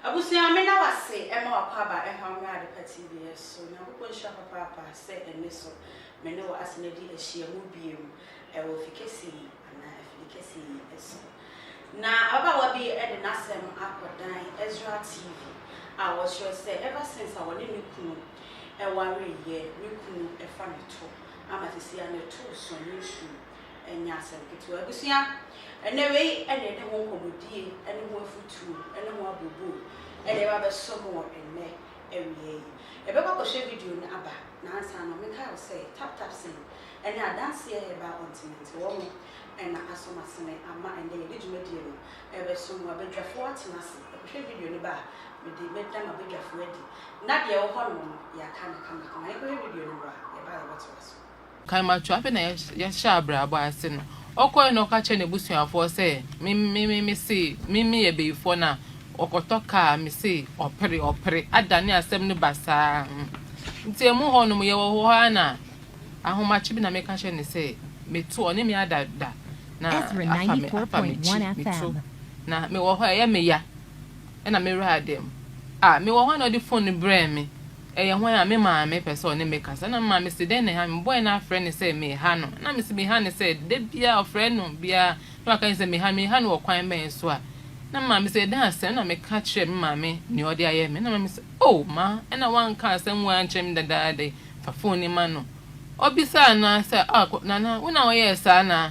Abusua meda wo ase ma w'akwaaba ɛho ammrɛ Adepa TV so. Nyankopɔn nhyira papaapa sɛ ɛnɛ so me ne wo asan adi ahyiamu biom ɛwɔ fi kɛse yi anaa afidi kɛse yi so. Na ababaawa bi de n'asɛm akɔdan Ezra TV a ɔkyerɛ sɛ ever since a ɔne ne kunu ɛwareyɛ, ne kunu ɛfa ne to ama sisi a ne to so ne nsuo. ɛnyɛ asɛm ketewa. Abusua, ɛnnɛ wei na yɛde ho nkɔmmɔdie ne ho afutuo ne ho abooboo na ɛba abɛsɔ mo wɔ ɛnnɛ awia yi. Yɛbɛkɔ akɔhwɛ video no aba, na ansa no menkae wo sɛ Tap Tap Sing ne Adanseɛ Herbal Ɔntenante wɔn na asɔ mo asene ama ɛnnɛ yɛde dwumadie no rebɛsɔ mo. Abadwafoɔ atena ase akɔhwɛ video no ba a, mede mɛda m'abadwafoɔ adi, na deɛ ɛwɔ hɔnom no yɛaka no kamakama. Yɛnkɔhwɛ video no mmra, yɛba a yɛbɛtoa so. Kaimatu, afei na yɛahyɛ abrabɔ ase no, ɔkɔe na ɔka kyerɛɛ n'abusuafoɔ sɛ, Me, me, me, mese, me, meyɛ bayifoɔ no a, ɔkɔtɔ kaa a, mese, ɔpere, ɔpere, adane asɛm no basaa. Nti ɛmu hɔ nom, yɛwɔ hɔ ara na ahomakye bi na meka kyerɛ no sɛ, Meto, ɔne me ada da, na afa me, afa m'akyi, meto, na mewɔ hɔ a, ɛyɛ me ya. na me wura da mu. Ah, mewɔ hɔ a na ɔde fon no brɛɛ me. Ɛyɛ hwan a? Me maame pɛ sɛ ɔne me kasa. Na me maame se, Dɛn na ɛha no? Mebɔe na afrɛ no sɛ meha no. Na mese, Meha no sɛ? Da biara ɔfrɛ no biara na waka sɛ meha no. Meha no wɔ kwan bɛn so a? Na me maame se, Ɛda ase a. Ɛna meka kyerɛɛ me maame nea ɔde ayɛ me. Na me maame se, Oh, ma ɛna woanka asɛm wei ankyerɛ me dadaada yi. Fa fon no ma no. Ɔbisaa no ara sɛ, Ah, Nana, wo na woyɛɛ saa anaa?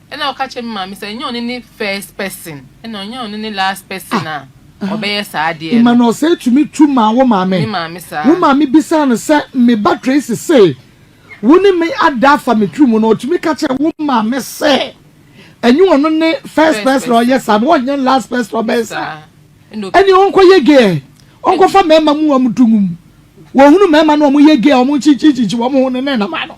Ɛna ɔka kyerɛ me maame sɛ ɛnyɛ ɔno ne first person ɛna ɔnyɛ ɔno ne last person a ah, ɔbɛyɛ saa adeɛ no. Ima na ɔsɛ tumi tu maa wo maame. Me maame saa. Wo maame bisaa no sɛ me ba Tracy se wo ne me ada afa me tiri mu na ɔtumi ka kyerɛ wo maame sɛ ɛnyɛ ɔno ne first person ɔyɛ saa na ɔnyɛ last person ɔbɛyɛ saa. Ɛne ɔnkɔ yɛ gay ɔnkɔfa mmarima mu wɔn dungum wɔhunu mmarima na wɔn yɛ gay wɔn kyinkyinkyinkyi wɔn ho no ne nam ano.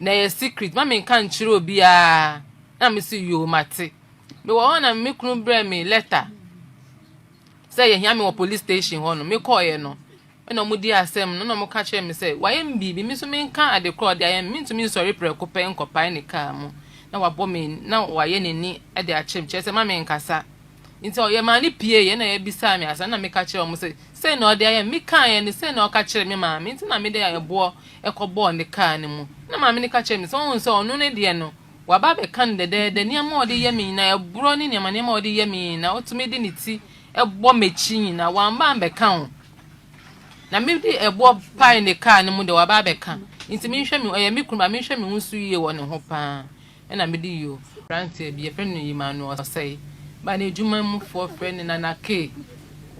Na ɛyɛ secret ma me nka nkyerɛ obiara na me se yoo mate. Me wɔ hɔ na me kunu brɛ me letter sɛ yɛhia me wɔ police station hɔ no me kɔɔeɛ no ɛna ɔmo di asɛm no na ɔmo ka kyerɛ me sɛ wayɛ me biribi me nso me nka ade korɔ ɔde ayɛ me mentumi nsɔre prɛko pɛ nkɔpae ne kaa mu na wabɔ me na wayɛ n'ani de akyerɛ me kyerɛ sɛ ma me nkasa nti ɔyɛ maa ne pie yɛ na yɛbisaa me asa na meka kyerɛ ɔmo sɛ sɛ na ɔde ayɛ me kaeɛ no sɛ na ɔka kyerɛ me maame nti na mede ayɛboɔ kɔbɔɔ ne kaa no mu. Ɛnna maame no ka kyerɛɛ me sɛ, Woahu sɛ ɔno no deɛ no, waba abɛka no dɛdɛɛdɛ, nneɛma a ɔde yɛ me nyinaa, ɛborɔ ne nneɛma nneɛma a ɔde yɛ me nyinaa, ɔtumi de ne ti bɔ m'akyi nyinaa, wamba ammɛka o. Na mede ɛboɔ pae ne kaa no mu deɛ, waba abɛka. Enti menhwɛ me ho, ɛyɛ me kunu ba, menhwɛ me ho so yie wɔ ne ho paa. na mede yi o. Aberanteɛ bi, yɛfrɛ no Emmanuel Osei, baa n'adwuma mu foɔ frɛ no Nana Kay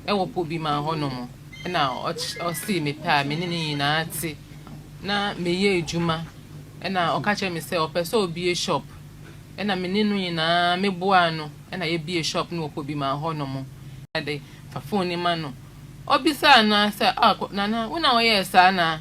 wɔ Pobiman hɔ nom, na ɔsee me pɛ a me ne no nyinaa te, na meyɛ adwuma, na ɔka kyerɛ me sɛ ɔpɛ sɛ ɔbie shop, na me ne no nyinaa me boaa no, na yɛbie shop no wɔ Pobiman hɔ nom, na de fa phone no ma no, ɔbisaa no ara sɛ, ah Nana, wo na wo yɛɛ saa anaa?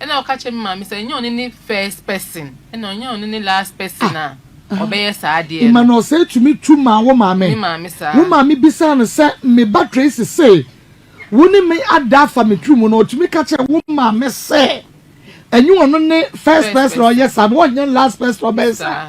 Ɛna ɔka kyerɛ me maame sɛ ɛnyɛ ɔno ne first person ɛna ɔnyɛ ɔno ne last person a ah, ɔbɛyɛ saa adeɛ no. Ima na ɔsɛ tumi tu maa wo maame. Me maame saa. Wo maame bisaa no sɛ me ba Tracy se wo ne me ada afa me tiri mu na ɔtumi ka kyerɛ wo maame sɛ ɛnyɛ ɔno ne first person ɔyɛ saa na ɔnyɛ last person ɔbɛyɛ saa.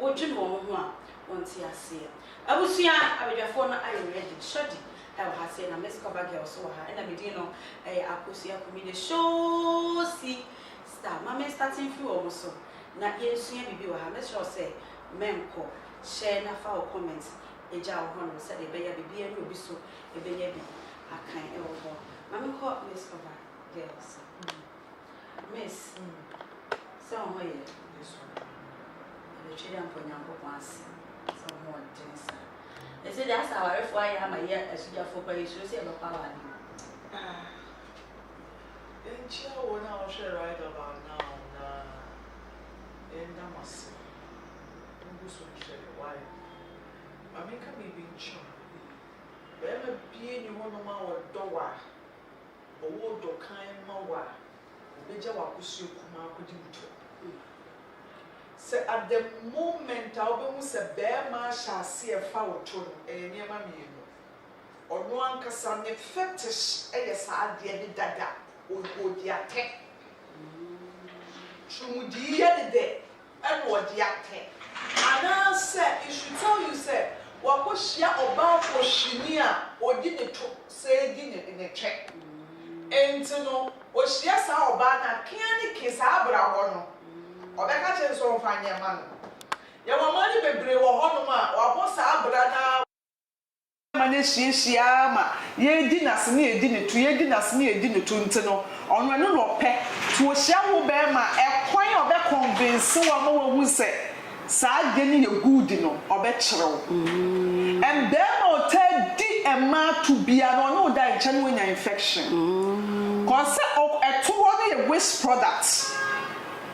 wodwen wɔn ho a wɔnte aseɛ. Abusua abadwafoɔ no ayɛ ready. Shorty wɔ ha sei na Miss Cover Girl nso wɔ ha ɛna me din no yɛ Akosua Aku me the Showsi star. Ma me starte mfiri wɔn so na yɛnsua biribi wɔ ha. Mɛsrɛ wo sɛ mɛnkɔ share na fa wo comment gya wɔ hɔnom sɛdeɛ ɛbɛyɛ a biribiara nni obi so bɛnya bi akan wɔ hɔ. Ma menkɔ Miss Cover Girl so. Miss mm sɛ wo ho yɛ me so Mede Twɛdeɛ mfa Onyankopɔn ase sɛ wo ho ɔden saa Ɛsɛ deɛ asɛ awarefoɔ ayɛ ama yɛ asugyafoɔ koraa yɛsuro sɛ yɛbɛkɔ aware mu. Ah Nkyia wɔn a wɔhwɛ right about now na yɛnda mo ase mogu so hwɛ wire Ma menka biribi nkyerɛ mo Bɛɛma bi nni hɔnom a wɔdɔ wo a, Ɔwɔ ɔdɔ kann ma wo a, ɔbɛgya w'akosua kumaa akɔdi wo tɔ. Sɛ at the moment a wobɛhu sɛ barima ahyɛ aseɛ fa wo to no, ɛyɛ nneɛma mmienu. Ɔno ankasa ne fetish yɛ saa adeɛ de dada, ɔdi atɛ. Twerɛmudiiɛ ne dɛ. ɛna ɔde atɛ. Anaasɛ it should tell you sɛ wakɔhyia ɔbaa fohwini a ɔdi ne to sɛɛ di ne ne twɛ. Enti no ɔhyia saa ɔbaa no a, kea ne ke saa abrabɔ no, ɔbɛka akyerɛ no sɛ ɔmfa nyɛ mma no. Yɛwɔ mmaa no bebree wɔ hɔnom a wɔabɔ saa abira no ara wɔ. ma no ahyiahyia ara ma yɛredi no ase na yɛdi no to, yɛredi no ase na yɛdi no to nti no, ɔno ɛno na ɔpɛ. To ohyia ho bɛ ma ɛkwan a ɔbɛ convince wo ama wahu sɛ saa adeɛ no yɛ good no, ɔbɛ kyerɛ wo. And bɛɛma a ɔtaa di mmaa to biara no, ɔne wo da nkyɛ na wanya infection. Cause sɛ ɛto hɔ no yɛ waste product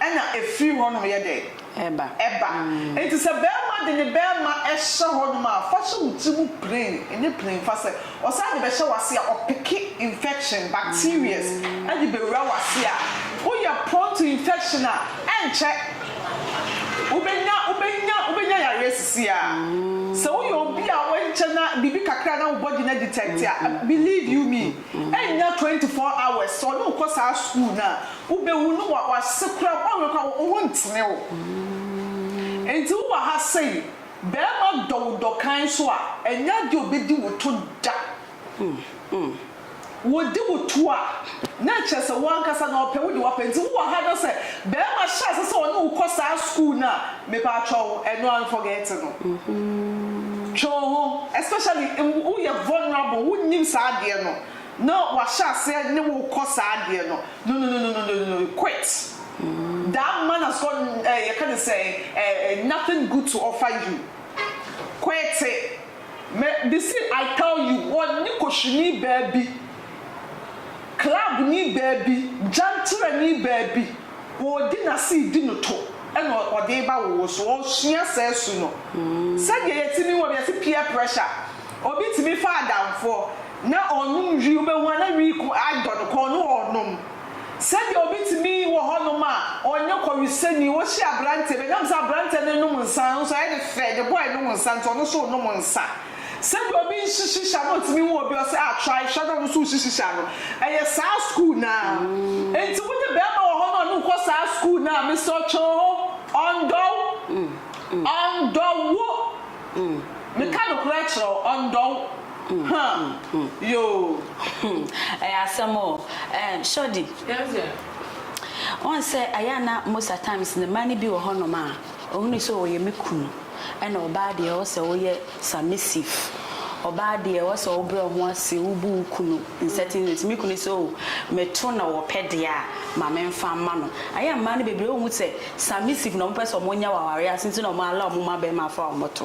ɛna ɛfiri hɔ nom yɛ dɛn? ɛba. Ɛba. Enti sɛ barima de ne barima hyɛ hɔnom a, fa hyɛ wo tirim plain, ɛnyɛ plain fa sɛ ɔsan de bɛhyɛ w'ase a, ɔpeke infection, bacterias de bɛwura w'ase a, woyɛ prone to infection a, ɛnkyɛ wobɛnya, wobɛnya, wobɛnya yareɛ sisi ara. Sɛ woyɛ obi a ɛnkyɛ na biribi kakra na wo body no adetect a, believe you me, Ɛnnya twenty four hours sɛ ɔne wo kɔ saa sukuu no a, wobɛwu no wa wase koraa mpo anhwɛ koraa wo ho ntene wo. Enti wo wɔ ha sei, bɛɛma dɔ wo dɔ kann so a, ɛnyɛ adeɛ ɔbɛdi wo to da. Wɔdi wo to a, na ɛkyerɛ sɛ wo ankasa na ɔpɛ, wo deɛ wapɛ. Enti wo wɔ ha na sɛ bɛɛma hyɛ ase sɛ ɔne wo kɔ saa sukuu no a, Mepaatwɔw ɛno an forget no. Twe wo ho especially wo yɛ vulnerable wo nnim saa adeɛ no na wahyɛ aseɛ ne wo kɔ saa adeɛ no nonononononononno quit that man has got eh yɛka ne sɛn eh eh nothing good to offer you quit it mɛ me se I tell you wɔ ne kosini baa bi club ni baa bi gyanterɛ ni baa bi. Ɔredi n'ase redi no to na ɔde reba wo wo so. Ɔresua saa su no. Sɛdeɛ yɛtumi hu obi, yɛse peer pressure. Obi tumi fa adamfoɔ na ɔnom wii, wobɛhu a na wii ko adɔ no kɔn na ɔrenom. Sɛdeɛ obi tumi wɔ hɔnom a ɔnyɛ kɔwesani, wohyia aberanteɛ bi, ɛnam sɛ aberanteɛ no renom nsa, nso ayɛ no fɛ, ne boy nom nsa nti ɔno nso renom nsa. Sɛdeɛ obi nhye shisha no ntumi nwo obi ɔsɛ ah try hwɛ na ɔno nso nhye shisha no ɛyɛ saa school no ara nti wode bɛɛma wɔ hɔ na ɔne wo kɔ saa school no a mesrɛ wo twe wo ho ɔndɔ wo ɔndɔ wo meka nokorɛ kyerɛ wo ɔndɔ wo huh yoo. Ɛyɛ asɛm o eh Shorty. Yes dear. Wohu sɛ ɛyɛ a na most at times no mmaa no bi wɔ hɔnom a. Ɔhunuu sɛ ɔyɛ me kunu, ɛna ɔbaa deɛ ɛwɔ sɛ woyɛ submissive, ɔbaa deɛ ɛwɔ sɛ wobrɛ wo ho ase, wobu wo kunu in certain ways. Me kunu sɛ oh, meto na ɔpɛ deɛ a, ma memfa mma no. Ayɛ a mmaa no bebree, wonhu sɛ submissive na wɔpɛ sɛ wɔnya wɔ awareɛ ase nti na wɔallow wɔn mma barima afa wɔn to.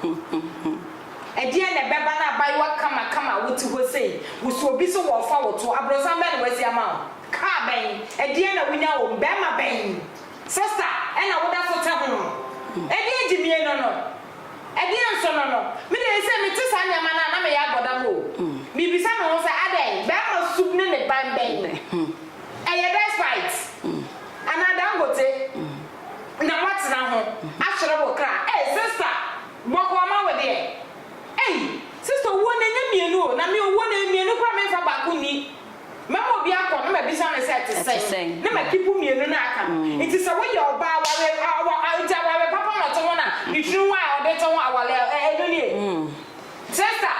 He he he. Ɛdeɛn na ɛbɛba na abaayewa kamakama a wote hɔ sei, wosi obi so wɔrefa wo to, abrɔsan bɛn na wasi ama wo? Car bɛn? Ɛdeɛn na wonya wom? Barima bɛn? Sister ɛna woda so te ho? Ɛdeɛn gyimie no no? Ɛdeɛn nso no no? Me deɛ sɛ mete saa nneɛma no a na meyɛ abɔdam o. Mebisa me ho sɛ adɛn? Barima sum ne ne ban bɛn? Ɛyɛ despite? Anaa Dangote? na watena ho akyerɛ wo kra ei sister bɔkɔɔ ma wo deɛ ei sister owuo no ɛnyɛ mmienu o na me owuo no mmienu koraa menfa baako nni mɛma obi akɔ na mabisa no sɛ ɛte sɛn na ma keep mmienu no aka no nti sɛ woyɛ ɔbaa awareɛ nti awareɛ papa na ɔte ho na ne tiri ho a ɔde te ho awareɛ ɛno nie sister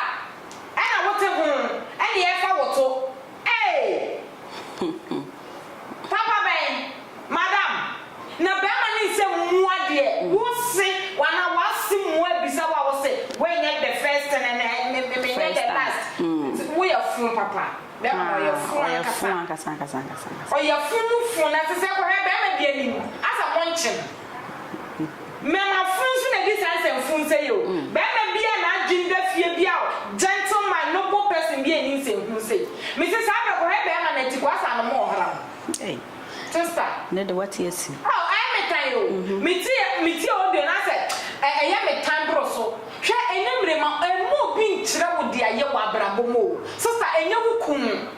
ɛna wote ho ɛne yɛfa wo to. Eeii hmm papa bɛn madam na bɛɛma ne nsɛ mua deɛ wo se wana wase mua abisa wo a wo se wei nyɛ the first and and and me me me nyɛ the last nti wo yɛ funu papa bɛɛma no ɔyɛ funu ankasa ɔyɛ funu funu na te sɛ kɔhɛ bɛɛma bi anim asɛ mo nkye no. Mmarima funu nso na ɛdi saa nsɛm funu sɛ yɛ o. Barima bi a n'adwene da fie bi a o, gentle mind, noble person bi a ɛnni nsɛm funu sɛ yi. Me se saa berɛ kɔhɛ barima na tikuo asaa no mo wɔ hram. Ei. Sister. Ɛnɛ de wate asi. Oh ɛyɛ me tan o. Me ti yɛ, me tie audio no asɛ ɛ, ɛyɛ me tan boro so. Hwɛ ɛnyɛ mmerema, ɛmma obi nkyerɛ wo deɛ ayɛ wɔ abrabɔ mu o. Sister ɛnyɛ wo kunu.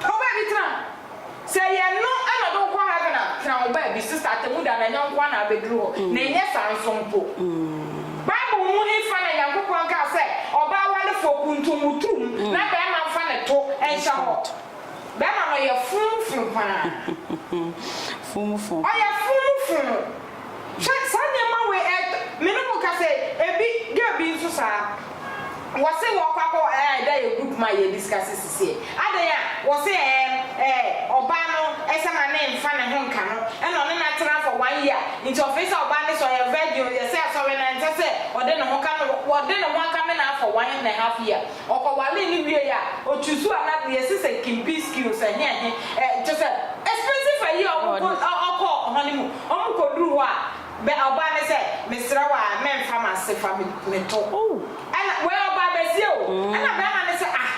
Kɔ baabi tena. Sɛ ɛyɛ ɛno na ɔde wo kɔ heaven a, tena wo baabi. Sista Atemmuda na ɛnyɛ nkoa na abeduru hɔ, na ɛnyɛ saa nso mpo. Bible mu hefa na Nyankopɔn kaa sɛ ɔbaa warefoɔ kuntun wo turum na bɛɛma nfa ne to nhyɛ hɔ? Bɛɛma no yɛ fun fun paa. Fun fun. Ɔyɛ fun fun. Sɛ saa nneɛma wei ɛ, me ne mo ka sɛ ebi, girl bi nso saa, wɔse wɔkɔ akɔ ɛ, ɛda yɛ group mu a yɛ discuss sisiɛ, adɛn a, wɔse ɛ, ɛ, ɔbaa no sɛ ma ne nfa ne ho nka no, ɛna ɔne no atena for one year, nti ɔfee sɛ ɔbaa no sɛ ɔyɛ virgin o, yɛse asɔre no ɛnsɛ sɛ ɔde ne ho ka no, ɔde ne ho aka me naa for one and a half year, ɔkɔ walee no wiee a, o choosuu another, yɛse sɛ kimpii skills ɛhe ɛhe ɛ, kyerɛ sɛ expensive ayi a ɔkɔ, ɔkɔ honeymoon. Wɔkɔduru hɔ a, bɛ ɔbaa no sɛ, Mesrɛ wo ara, mɛmfa m'ase fa me me to. Ɛnna wei ɔbaa bɛseɛ o. Ɛnna bɛrima no sɛ, Ah!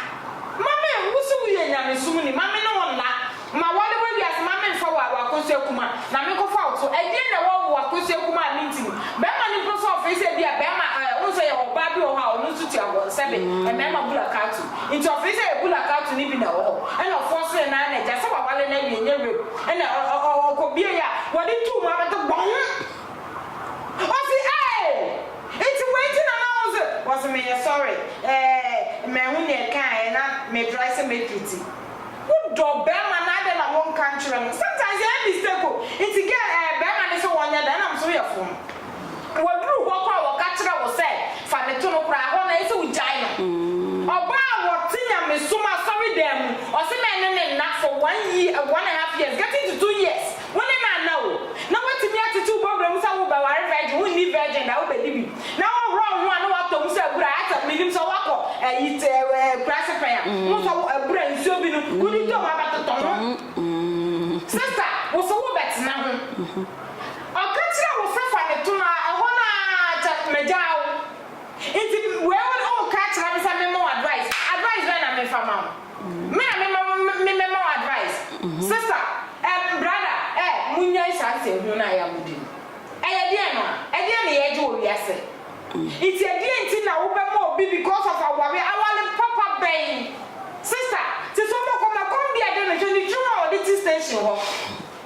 Mma me, wo se woyɛ nyamesom ni, ma me ne wo nna. Ma wɔne wo awie ase, ma memfa wo w'akosua kumaa, na menkɔfa wo to. Ɛdeɛn na ɛwɔ wo w'akosua kumaa a mente mu? Bɛrima no mpo sɛ ɔfee sɛ ebia bɛrima ɛ, wohu sɛ yɛwɔ ɔbaa bi wɔ hɔ a ɔno nso tua wɔn sɛbe, mmarima bulakatu. Enti ɔfee sɛ ɛyɛ bulakatu no bi na ɛwɔ hɔ. Ɛnna ɔfoɔ srɛɛ n'aa n'agya sɛ waware no awie, nyɛ rape. Ɛna ɔkɔbiei a, wɔde too mu abɛto bɔn! Ɔse eei! Nti wei nti na na wo nso. Ɔse meyɛ sorry eh, manhu nea ɛkaaɛ na metrae sɛ mɛduru ti. Wo dɔ bɛɛma no adɛn na wo nka nkyerɛ no? Sometimes ɛyɛ mistake o, nti girl eh bɛɛma no sɛ wɔnyɛ dɛn? Ɛnam sɛ wo yɛ fromm. Wɔduruu hɔ kɔ a wɔka kyerɛɛ wo sɛ fa me to no koraa a, hɔ no ayɛ sɛ wogyae no. Ɔbaa a ɔte nyamesom asɔredan mu, ɔse me ne ne nna for one year, one and half years, getting to two years, wo ne no anna o. Na woatumi atete wo bɔwerɛ mu sɛ worebɛware virgin, wonni virgin da, wobɛdi bi. Na wohohoro wo ho a na woatɔ mu sɛ abura, ayɛ sɛ mennim sɛ woakɔ ayi akuraase pɛn a, wohu sɛ abura nsuo bi no, wode tɔ mu abɛtotɔ ho. Sister, wose wobɛtena ho. Ɔka kyerɛɛ wo sɛ fa no tom a, ɛhɔ no ara kyɛ magyaa wo. Nti wei wo de woka akyerɛ me sɛ memmɔ wo advice. Advice bɛn na mefa ma wo? Me a mema wo me mɛma wo advice? Sister eh, brother eh, monnyae saa nsɛnhunu no a ɛyɛ a modi no. Ɛyɛ deɛn no a? Ɛdeɛn na yɛregye wɔ wiase? Nti ɛdeɛn nti na wobɛma obi because of awareɛ? Aware papa bɛn? Sister, te sɛ ɔbɔkɔma, kɔm bi a ɛde no, hwɛ ne tirim a ɔde te station hɔ.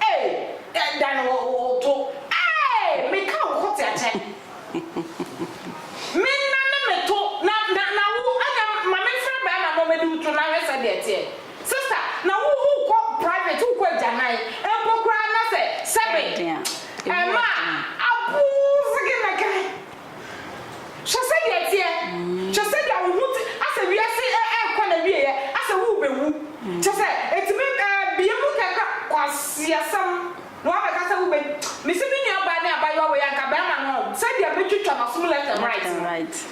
Ei, da no wɔ wo to. Ei, me ka wo ko te akyɛ. Me na me me to, na na na wo ɛna ma me nfrɛ bɛɛma na ɔmɛdi wo to na hwɛ sɛdeɛ ɛteɛ. Sister, na wo wo kɔ private, wo kɔ agyanan mpo koraa na sɛ sɛbe ɛma a, abuu, zigi na kɛ. Hwɛ sɛdeɛ ɛteɛ! Hwɛ sɛdeɛ wo ho te asɛ wiase ɛɛkɔ n'awieɛ asɛ worebɛwu. Kyerɛ sɛ ɛtumi bue mu kɛkra kwaseasɛm na wabɛka sɛ wobɛ Mese me nuabaa ne abaayewa wei anka bɛɛma no ɔn sɛdeɛ mɛtwitwa n'asom left and right no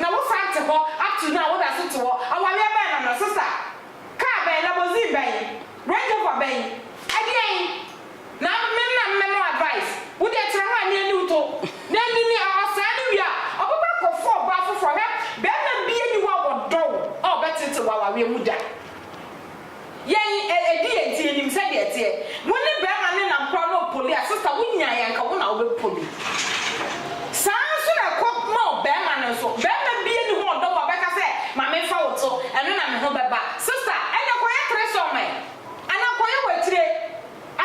na wo san te hɔ upto now woda so te hɔ awareɛ bɛn no no sister? Car bɛn? Laborzine bɛn? Range Rover bɛn? Ɛdeɛn? Na me na me mɛma wo advice. Wo deɛ tena hɔ a ne aniw to. Na anyini a ɔsɛɛ no wie a ɔbɛkɔ akɔfa ɔbaa foforɔ. Hwɛ, barima biara nni hɔ a ɔdɔ wo a ɔbɛteetew wo awareɛ mu da. Yɛn, ɛdi yɛn nti yɛnim sɛdeɛ ɛteɛ. Wo ne barima no nam koraa na ɔpoli a, sista wonyaeɛ a anka wo na wobɛpoli. Saa ara nso na ɛkɔ ma ɔbarima no nso. Barima biara nni hɔ a ɔdɔ wo a ɔbɛka sɛ ma memfa wo to, ɛno na me ho bɛba. Sista, ɛnneɛ kɔyɛ threesome. Anaa kɔyɛ w'atire.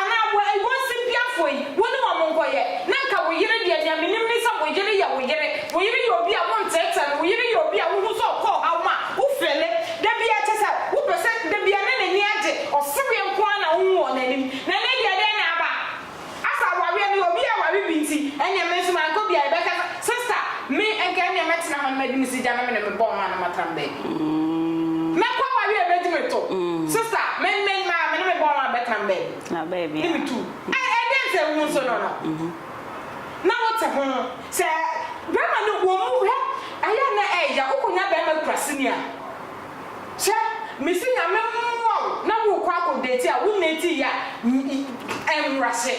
Anaa bɔ iwɔ nsem bi afoi, wo ne wɔn nkɔyɛ, na nka wo yere deɛ, deɛ menim ne sɛ wo yere yɛ wo yere, wo yere yɛ obi a wo nteetee no, wo yere yɛ obi a wo hu sɛ ɔkɔ ɔhaw mu a wo feele da biara, kyɛ sɛ wo pɛ sɛ da biara ne n'ani agye, ɔsereɛ nko ara na wo hu wɔ n'anim, na ɛnɛ deɛ dɛn na aba? Asa awareɛ no obi aware bi nti ɛneɛ me nso mankɔ bia yɛbɛka sɛ sister me nka ɛneɛ mɛtena hɔ no mɛdi me sigya na me ne me bɔɔ maa no matena me baabi mɛkɔ awareɛ a ɛbɛgye me to sister me ne me maa me ne me bɔɔ maa bɛtena me baabi ne me tu ɛɛ ɛdeɛn sɛ wo nso no no na wo te ho sɛ bɛɛma no wɔ mu hɛ ayɛ a na ɛɛya wo kɔ nya bɛɛma kura sini a. Hwɛ, mese Nyame mmoa wo na worekɔ akɔ date a wo nnate yi a ɛmmra se.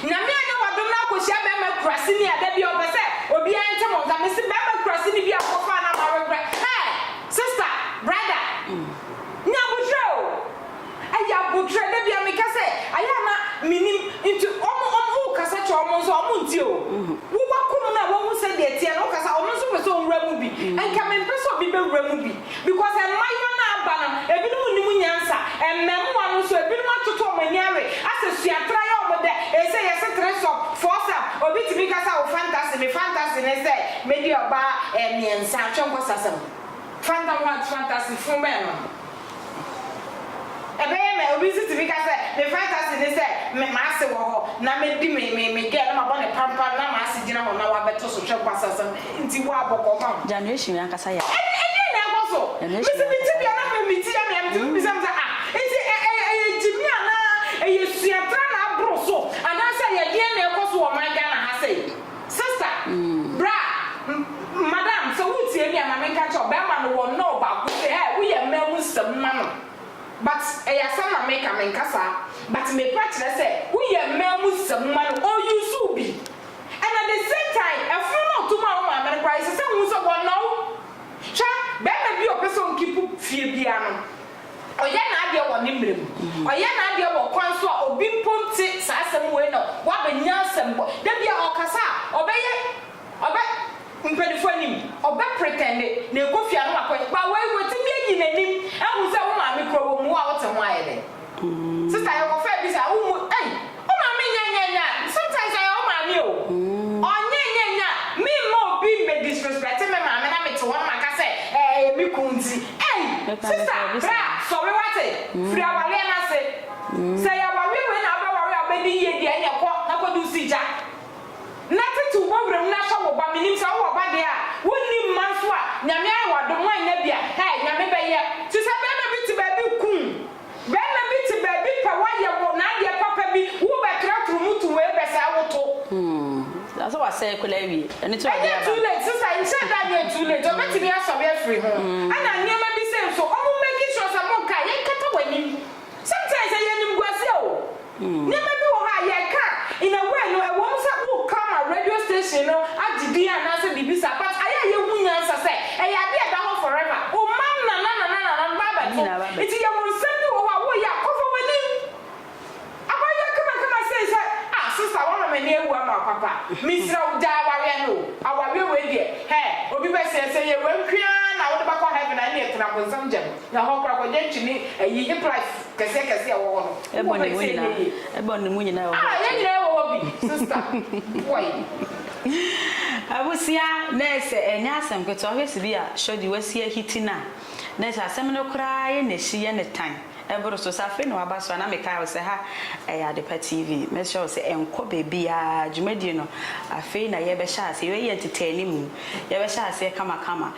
Nyame anyɛ w'adom na akɔhyia bɛrima kuraseni a da bi a ɔpɛ sɛ obiara nte mo nka, mese bɛrima kuraseni bi a wokɔfaa no ama awerɛ kora, hey! Sister, brother, nya aboterɛ o! Ɛyɛ aboterɛ da biara meka sɛ ayɛ a na menim nti wɔn wɔn wokasa kyerɛ wɔn nso a wɔn ntie o wo wakɔ mu no a wahu sɛdeɛ ɛteɛ no wokasa wɔn nso pɛ sɛ wɔwura mu bi nka mempɛ sɛ obi bɛwura mu bi because mmayewa no a aba no ebinom nnim nyansa mmɛmoa no nso ebinom atoto wɔn ani awe asɛ sua tra yɛ wɔn dɛ ɛsɛ yɛse three sub four sub obi tumi ka sɛ wo fantasy me fantasy ne sɛ mɛdi ɔbaa ɛɛ mmiɛnsa twɛnkɔsasɛm fantam what fantasy funu bɛn no. Ɛbɛyɛ mɛ, obi nso tumi ka sɛ, Me fantasy ne sɛ me m'ase wɔ hɔ na medi me me me girl na mabɔ no pampan na m'ase gyina hɔ na wabɛto so, hwɛ kwasasɛm nti wo a bɔkɔɔ ma wo. Januation yi ankasa yɛ a. Ɛ ɛdeɛn na ɛkɔ so? Januation yi Mese me te ankasa bia yɛ na a. me me ti yɛ me a, metumi bisa me sɛ, Ah, nti ɛ ɛ ɛyɛ gyimii anaa ɛyɛ suatra na aboro so anaasɛ ɛyɛ deɛn na ɛkɔ so wɔ ɔman Ghana ha sei? Sister, bra, madam sɛ woretie me a ma menka nkyerɛ wo, bɛrima no wɔ nɔɔ baako sɛ ɛɛ woyɛ mmaa mu nsɛm ma no but ɛyɛ asɛm na meka, menka saa but mepɛ kyerɛ sɛ woyɛ mmaa mu nsɛm ma no, ɔ use wo bi and at the same time ɛfono no a ɔto maa wo maame no koraa ɛsɛ sɛ wohu sɛ wɔnɔ wo, hwɛ bɛrima bi a ɔpɛ sɛ ɔnkeep fie biara no. Ɔyɛ n'adeɛ wɔ ne mmerɛ mu. Ɔyɛ n'adeɛ wɔ kwan so a obi mpo nte saa asɛm wei na waba nyansam bɔ. Da bi a ɔkasa a, ɔbɛyɛ, ɔbɛ, mpaninfoɔ anim, ɔbɛ pretɛnde na ɛkɔ fie a na wakɔ yɛ. But wei watumi ayi n'anim ahu sɛ wo maame kura wɔ mu, wo a wote ho ayɛ dɛn? Sister yɛkɔfaa bi saa, wommu, ei! Wo maame nyɛ nyɛ nyɛ a sometimes ɔyɛ wo maame o ɔnyɛ nyɛ nyɛ a me mma obi mmɛ disrespect me maame na me te hɔ na maka sɛ ɛɛ ɛyɛ me kunu nti ei sister bra sɔre wate firi awareɛ no ase sɛ ɛyɛ awareɛ wei na wobɛ ware a wobɛdi yie deɛ ɛneɛ kɔ na kɔ di wo si gya na tete wo bɔ wura mu na hwɛ wo ba menim sɛ wo wɔ ba deɛ a wo nni mma nso a nyame ayɛ wo adom woannya bi a ɛɛ nyame bɛyɛ te sɛ bɛɛma bi te baabi kuu Bɛɛma bi te baabi pɛ wayɛ wo n'adeɛ papa bi wo bɛ tra tru mu to wei bɛ saa wo to. Umm asɛ wasɛɛ kola awie ɛno nti na ɔde Ɛnyɛ aba too no. late sista nhyɛ da nyɛ too late ɔbɛtumi asɔre afiri ho ɛna nneɛma bi sei nso ɔmo make sure sɛ mo nka yɛnkata w'anim sometimes ɛyɛ animguaseɛ o. Nneɛma bi wɔ hɔ a, yɛka a, in a way no, ɛwɔ mu sɛ woka ma radio station no agye din anaasɛ biribi saa, but ayɛ a yɛahu nyansa sɛ, ɛyɛ adeɛ a ɛda hɔ forever. Wo mma nanananananom ba abɛto. Nti yɛwɔ nsɛm bi wɔ hɔ a, woyɛ a, kɔfa w'anim. Aba yɛ kama kama sei sɛ, ah, sister, woama m'ani awu ama wo papa. Mesrɛ wo, gyae awareɛ no o. Awareɛ wei deɛ, hɛɛ, obi bɛsɛ sɛ ɛyɛ wei nko ara na wode bɛkɔ heaven a, ɛnneɛ tena bonsam gya mu. Na hɔ koraa kɔgye nkyene ne ayi plies kɛseɛ kɛseɛ a ɛwɔ hɔ no. Wo wɔ pɛ sɛ ɛnyɛ yie. Ɛbɔ ne mu nyinaa wɔ hɔ. Ah yɛn nyinaa wɔ hɔ bi sister boy. Abusua nurse ɛnyɛ asɛm ketewa wohwɛ sibi a shordy wasi ahiti no a nurse asɛm no koraa yɛ na ɛsi yɛ ne tan ɛboro so sɛ afei na waba so a na me kae wo sɛ ha ɛyɛ adepa TV mɛsrɛ wo sɛ ɛnkɔ baabiaa dwumadie no afei na yɛbɛhyɛ aseɛ yɛyɛ ntetɛɛne mu Yɛbɛhyɛ aseɛ kamakama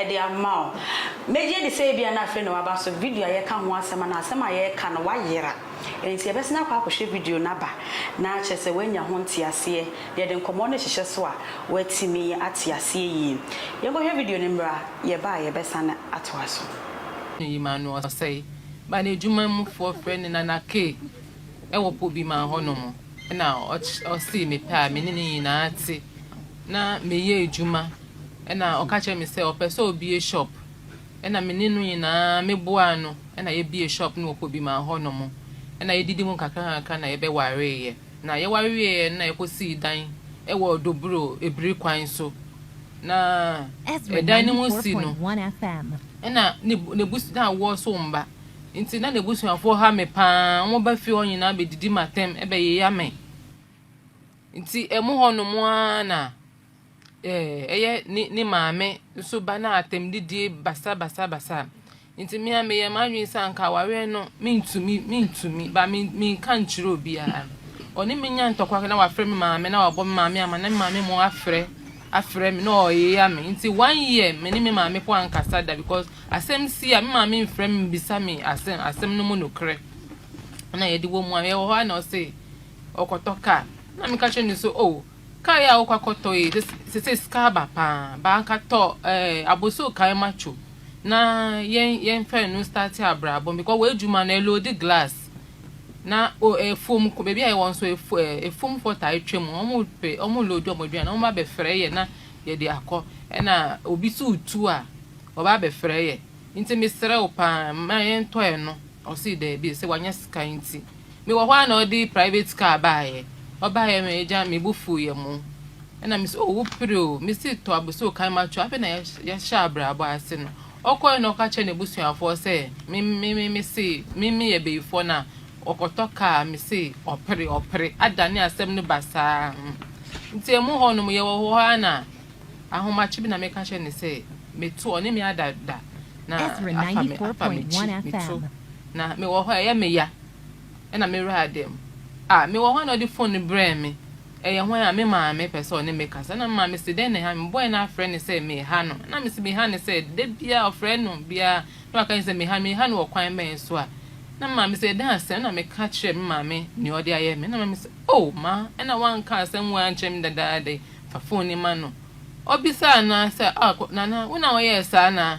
de ama wo. Megye di sɛ ebia na afei na waba so video a yɛka ho asɛm anaa asɛm a yɛreka no wayera. Enti yɛbɛsan akɔ akɔhwɛ video no aba na akyerɛ sɛ woanya ho nteaseɛ na yɛde nkɔmmɔ no hyehyɛ so a woatumi ate aseɛ yie. Yɛnkɔhwɛ video no mmra, yɛba a yɛbɛsan atoa so. No yi ma no ɔsɛe ba no adwuma mu foɔ frɛ no nana kay wɔ pobima hɔ nom. na ɔsee me pɛ a me ne no nyinaa te na meyɛ adwuma na ɔka kyerɛɛ me sɛ ɔpɛ sɛ ɔbue shop na me ne no nyinaa me boaa no na yɛbue shop no wɔ Kobima hɔ nom na yɛdidi mu kakra kakra na yɛbɛwareeɛ na yɛware wieɛ no na yɛkɔ sii dan wɔ Doburo abiri kwan so na Ezra ɛdan no mu ninety four si no point one FM. na n'abus na awoɔ so mma. Ntsi na n'ebusuafo ha me paa, wɔba fie hɔ nyina bedidi m'atam bɛyeya me. Ntsi emo hɔ no mo ara na ɛyɛ ne ne maame so ba no atam didie basa basa basa. Ntsi me a meyɛ m'adwen sɛ anka awareɛ no mentumi mentumi ba me menka nkyerɛ obiara. Ɔne me nya ntɔkwa na wafrɛ me maame na wabɔ me maame ama na me maame mo afrɛ afrɛ me na ɔyeya me nti one year me ne me maame mpo ankasa da because asɛm si a me maame mfrɛ me mbisa me asɛm asɛm no mu nokorɛ na yɛde wɔ mu a yɛwɔ hɔ a na ɔse ɔkɔtɔ car na meka kyerɛ no so oh car yi a wokɔ akɔtɔ yi sese sika aba paa baaka tɔ eh, aboso kan macho na yɛn yɛn fɛ no start abrabɔ because wɔ adwuma no ɛlodi glass na o afuom kɔ baabi a yɛwɔ nso efu ɛ afuomfoɔ taa twa mu wɔn pe wɔn loodi wɔn aduane wɔn ba bɛfrɛ yɛ na yɛde akɔ ɛna obi so tu a ɔba bɛfrɛ yɛ nti mesrɛ wo paa ma yɛntɔ ɛno ɔsi daabi sɛ wanya sika nti mewɔ hɔ a na ɔde private car baayɛ ɔbaayɛ me agya me bo fu yɛ mo ɛna mesɛ o wopere o mesi tɔ abosoo kan ma to afei na yɛhyɛ abrabɔ ase no Ɔkɔe na ɔka kyerɛɛ n'abusuafoɔ sɛ, Me, me, me, mese me, meyɛ bayifoɔ no a, ɔkɔtɔ kaa a, mese ɔpere, ɔpere, adane asɛm no basaa. Hmm. Nti ɛmu hɔ nom, yɛwɔ hɔ ara na ahomakye bi na meka kyerɛ no sɛ, Meto, ɔne me ada da, na Ezra afa me, afa 90.1 m'akyi, meto, FM. na mewɔ hɔ a, ɛyɛ me ya. na me wura ada mu. Ah, mewɔ hɔ a na ɔde fon no brɛɛ me. Ɛyɛ hwan a? Me maame pɛ sɛ ɔne me kasa. Na me maame se, Dɛn na ɛha no? Mebɔe na afrɛ no sɛ meha no. Na mese, Meha no sɛ? Da biara ɔfrɛ no biara na waka kyerɛ sɛ meha no. Meha no wɔ kwan bɛn so a? Na me maame se, Ɛdɛn asɛm? Na meka kyerɛɛ me maame nea ɔde ayɛ me. Na me maame se, Oh, ma na wanka asɛm wei ankyerɛ me dadaada yi. Fa fon yi ma no. Ɔbisaa no ara sɛ, Ah, Nana, wo na woyɛɛ saa anaa?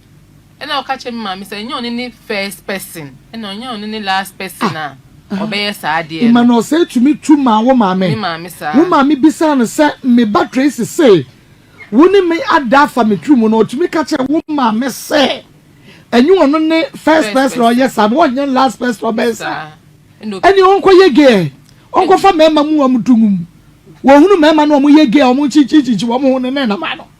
Ɛna ɔka kyerɛ me maame sɛ ɛnyɛ ɔno ne first person ɛna ɔnyɛ ɔno ne last person a ah, ɔbɛyɛ saa adeɛ no. Ima na ɔsɛ tumi tu maa wo maame. Me maame saa. Wo maame bisaa no sɛ me ba Tracy se wo ne me ada afa me tiri mu na ɔtumi ka kyerɛ wo maame sɛ ɛnyɛ ɔno ne first person ɔyɛ saa na ɔnyɛ last person ɔbɛyɛ saa. Ɛne ɔnkɔ yɛ gay ɔnkɔfa mmarima mu wɔn dungum wɔhunu mmarima na wɔn yɛ gay wɔn kyinkyinkyinkyi wɔn ho ne ne nam ano.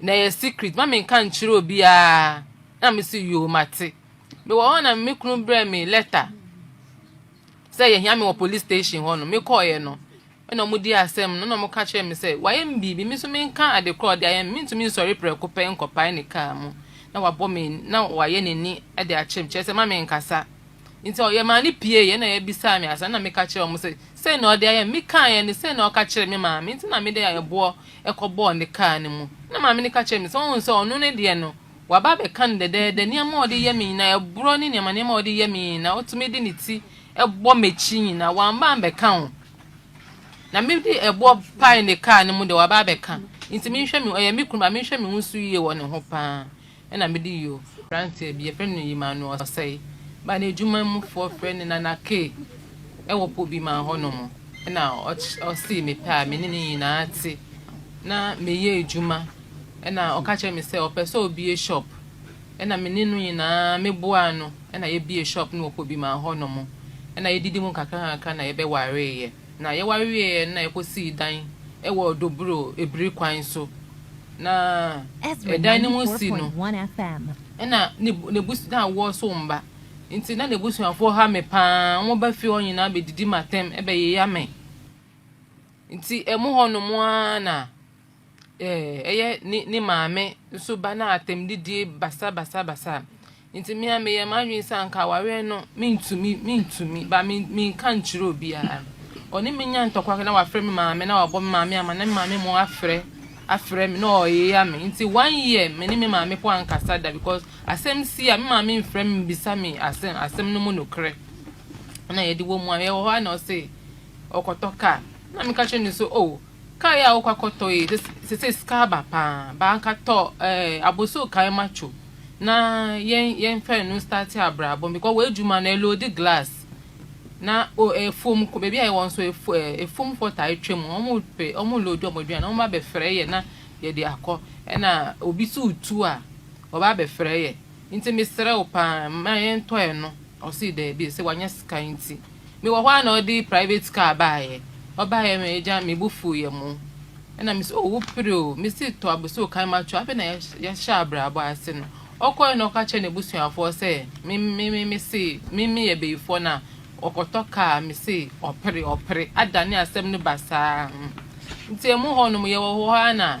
Na ɛyɛ secret ma me nka nkyerɛ obiara na me se yoo mate. Me wɔ hɔ na me kunu brɛ me letter sɛ yɛhia me wɔ police station hɔ no me kɔɔyɛ no ɛna ɔmo di asɛm no na ɔmo ka kyerɛ me sɛ wayɛ me biribi me nso menka ade korɔ ɔde ayɛ me mentumi nsɔre prɛko pɛ nkɔpae ne kaa mu na wabɔ me na wayɛ n'ani de akyerɛ me kyerɛ sɛ ma me nkasa Nti yɛmaa no pieeɛ, ɛnna yɛbisaa me asa, ɛnna meka kyerɛɛ wɔn sɛ, sei na ɔde ayɛ me. Mekaeɛ no, sei na ɔka kyerɛɛ me maame, nti na mede ɛboɔ kɔbɔɔ ne kaa no mu. Ɛnna maame no ka kyerɛɛ me sɛ, woahu sɛ ɔno ne deɛ no, waba abɛka no dɛdɛɛdɛ, nneɛma a ɔde yɛ me nyinaa, ɛborɔ ne nneɛma nneɛma a ɔde yɛ me nyinaa, ɔtumi de ne ti bɔ m'akyi nyinaa, wamba ammɛka o. Na mede ɛboɔ pae ne kaa no mu deɛ, waba abɛka. Nti menhwɛ me ho, ɔyɛ me kunu ba, menhwɛ me ho so yie wɔ ne ho paa. na mede yio. Aberanteɛ bi, yɛfrɛ no Emmanuel Osei, baa n'adwuma mu foɔ frɛ no Nana Kay wɔ Pobiman hɔ nom, na ɔsee me pɛ a me ne no nyinaa te, na meyɛ adwuma, na ɔka kyerɛ me sɛ ɔpɛ sɛ ɔbie shop, na me ne no nyinaa me boaa no, na yɛbie shop no wɔ Pobiman hɔ nom, na yɛdidi mu nkakra nkakra na yɛbɛwareeɛ. Na yɛware wieeɛ no na yɛkɔsii dan wɔ Dobro Ebiri kwan so, na ɛdan no mu si no na n'abusua na awoɔ so mma nti na n'abusuafoɔ ha me pa ara, wɔba fie hɔ nyinaa bɛdidi m'atɛm bɛyeyɛ me nti ɛmu hɔnom ara na ɛyɛ ne ne maame nso ba na atɛmdidie basabasabasa nti me a meyɛ m'adwene sɛ anka awareɛ no mentumi mentumi ba me menka nkyerɛ obiara ɔne me nya ntɔkwa na wafrɛ me maame na wabɔ me maame ama na me maame mo afrɛ afrɛ me na ɔyeya me nti one year me ne me maame po ankasa da because asɛm si a me maame mfrɛ me bisa me asɛm asɛm no mu nokorɛ na yɛde wɔ mu a yɛwɔ hɔ a na ɔse ɔkɔtɔ kaa na meka kyerɛ ne so oh Car yi a wokɔ akɔtɔ yi sesei sika aba paa but anka tɔ eh, abosow kan macho na yɛn yɛn fɛ no start abrabɔ because wɔ adwuma no ɛlodi glass na o efuom kɔ baabi a yɛwɔ nso efu eh, efum fɔ taa atwa mu wɔn pɛ wɔn lodi wɔn aduane wɔn ba bɛfrɛ yɛ na yɛde akɔ ɛna obi so tu a wɔba bɛfrɛ yɛ. Nti mesrɛ wo paa mma yɛntɔ ɛno. Ɔsee daabi, ɔsɛ wanya sika nti. Mewɔ hɔ ara na ɔde private car baeɛ. Ɔbaeɛ me agya me bo fuuiɛ mo. Ɛna mese oh wo pere o. Mese tɔ abosoo kan matwo afei na yɛahyɛ abrabɔ ase no. Ɔkɔeɛ na ɔka kyerɛɛ n'abusuafoɔ sɛ me me me mese me meyɛ bayifoɔ na ɔkɔtɔ car mese ɔpere ɔpere adane asɛm no basaa. Nti ɛmu hɔnom yɛwɔ hɔ ara na.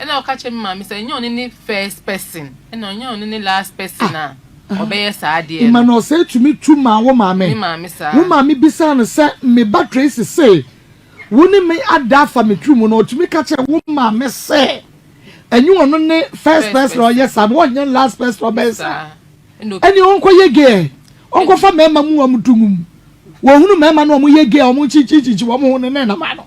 Ɛna ɔka kyerɛ me maame sɛ ɛnyɛ ɔne ne first person ɛna ɔnyɛ ɔne ne last person a ah, ɔbɛyɛ saa adeɛ no. Ima na ɔsɛ tumi tu maa wo maame. Me maame saa. Wo maame bisaa no sɛ me ba Tracy se wo ne me ada afa me tiri mu na ɔtumi ka kyerɛ wo maame sɛ ɛnyɛ ɔno ne first person ɔyɛ saa na ɔnyɛ last person ɔbɛyɛ saa. Ɛne ɔnkɔ yɛ gay ɔnkɔfa mmarima mu wɔn dungum wɔhunu mmarima na wɔn yɛ gay wɔn kyinkyinkyinkyi wɔn ho ne ne nam ano.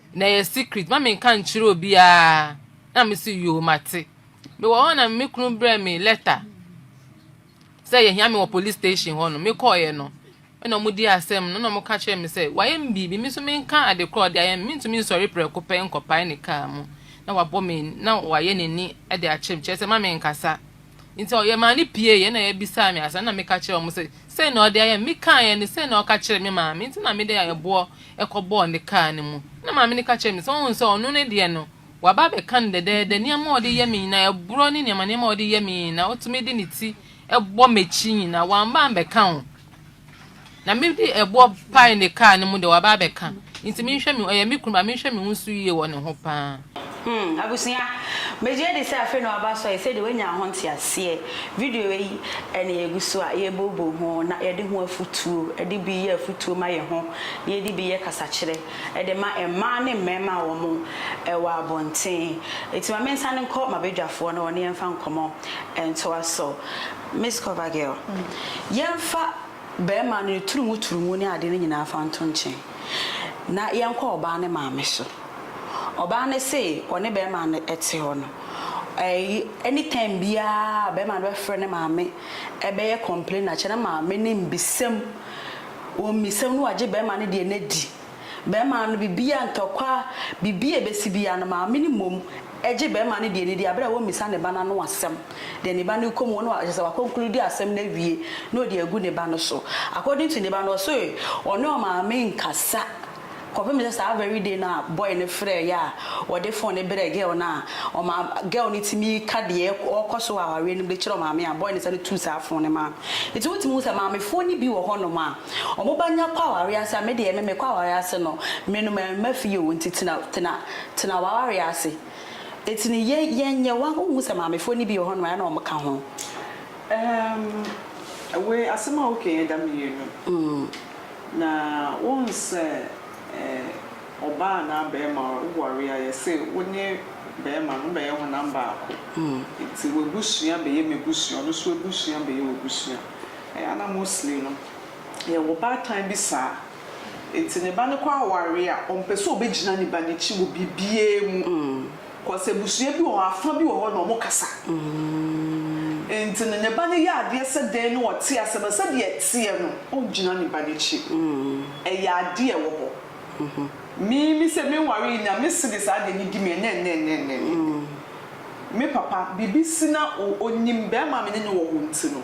Na ɛyɛ secret ma me nka nkyerɛ obiara na me se yoo mate. Me wɔ hɔ na me kunu brɛ me letter sɛ yɛhia me wɔ police station hɔ no me kɔɔyɛ no ɛna ɔmo di asɛm no na ɔmo ka kyerɛ me sɛ wayɛ me biribi me nso menka ade korɔ ɔde ayɛ me mentumi nsɔre prɛko pɛ nkɔpae ne kaa mu na wabɔ me na wayɛ n'ani de akyerɛ me kyerɛ sɛ ma me nkasa Nti ɔ, yɛmaa no pieeɛ, ɛnna yɛbisaa me asɛm, ɛnna meka kyerɛɛ wɔn sɛ, Sei na ɔde ayɛ me. Mekaeɛ no, sei na ɔka kyerɛɛ me maame, nti na mede ɛboɔ kɔbɔɔ ne kaa no mu. Ɛnna maame no ka kyerɛɛ me sɛ, Woahu sɛ ɔno ne deɛ no, waba abɛka no dɛdɛɛdɛ, nneɛma a ɔde yɛ me nyinaa, ɛborɔ ne nneɛma nneɛma a ɔde yɛ me nyinaa, ɔtumi de ne ti bɔ m'akyi nyinaa, wamba ambɛka ho. Na me de ɛboɔ pae ne kaa no mu de waba abɛka nti menhwɛ me ɔyɛ me kunu ba menhwɛ me ho so yie wɔ ne ho paa. Hmm abusua megye di sɛ afei na waba asɔ yɛ sɛdeɛ wanya ho nteaseɛ. Video wei ɛna yɛgu so a yɛbobɔ ho na yɛde ho afutuo ɛde bi yɛ afutuo ma yɛ ho na yɛde bi yɛ kasakyerɛ ɛde ma mmaa ne mmarima a wɔn ɛwɔ abɔnten. Ɛti ma mensane nkɔ mabadwafoɔ na wɔne yɛmfa nkɔmmɔ ntoa so. Miss Cover Girl, yɛmfa barima no ne turumu turumu ne adeɛ no nyinaa fa nto nkyen na yɛnkɔ ɔbaa no maame so. Ɔbaa no se ɔne barima no te hɔ no, ɛyi any time biara barima no bɛfrɛ ne maame ɛbɛyɛ complain akyɛ ne maame no mmisam, wɔmmisam na wagye barima no deɛ no adi. Bɛrima no biribiara, ntɔkwa, biribi a ɛbɛsi biara no, maame no mmom gye bɛrima no deɛ no di berɛ a ɔmmisa ne ba no ano asɛm. Deɛ ne ba no rekɔ mu no, kyerɛ sɛ wakonklude asɛm no awie na ɔde agu ne ba no so. According to ne ba no, ɔse ɔne ɔmaame nkasa kɔpem sɛ saa very day no a boy no frɛeɛ a ɔde phone no brɛɛ girl no a, ɔmaa girl no tumi ka deɛ ɔrekɔ so wɔ awareɛ no mu de kyerɛ ɔmaame a, boy no sane tuu saa phone no maa no. Nti wotumi hu sɛ maamefoɔ no bi wɔ hɔnom a, Ɔmo ba nya kɔ awareɛ ase a, me deɛ me mekɔ awareɛ ase no, me no mɛmma fie oo, nti tena, tena, tena w'awareɛ ase. Nti no yɛ, yɛnyɛ, wa, wonhu sɛ maamefoɔ no bi wɔ hɔnom a ɛna ɔmo ka ho. Ɛɛm, wei, asɛm a woka yi ɛda mmienu. Na wohu sɛ ɛɛ, ɔbaa anaa bɛɛma woware a, yɛse wo ne bɛɛma no mobɛyɛ honam baako. Nti w'abusua bɛyɛ m'abusua, ɔno nso abusua bɛyɛ w'abusua. Ana Mosley no yɛ wo baatan bi saa? Enti ne ba no kɔ aware a, ɔmpɛ sɛ ɔbɛgyina ne ba no akyi wɔ biribiara mu. Cause abusua bi wɔ hɔ, afa bi wɔ hɔ na wɔkasa. Enti no ne ba no yɛ adeɛ sɛ dɛn na ɔte aseɛ no, sɛdeɛ ɛteɛ no, ɔngyina ne ba no akyi. Ɛyɛ adeɛ a ɛwɔ hɔ. Me, me sɛ menware yi na mese de saa adeɛ no di me ɛnnɛnnɛnnɛnnɛnnɛ. Me papa, biribi si na ɔnim barima a me ne no wɔ hɔ nti no,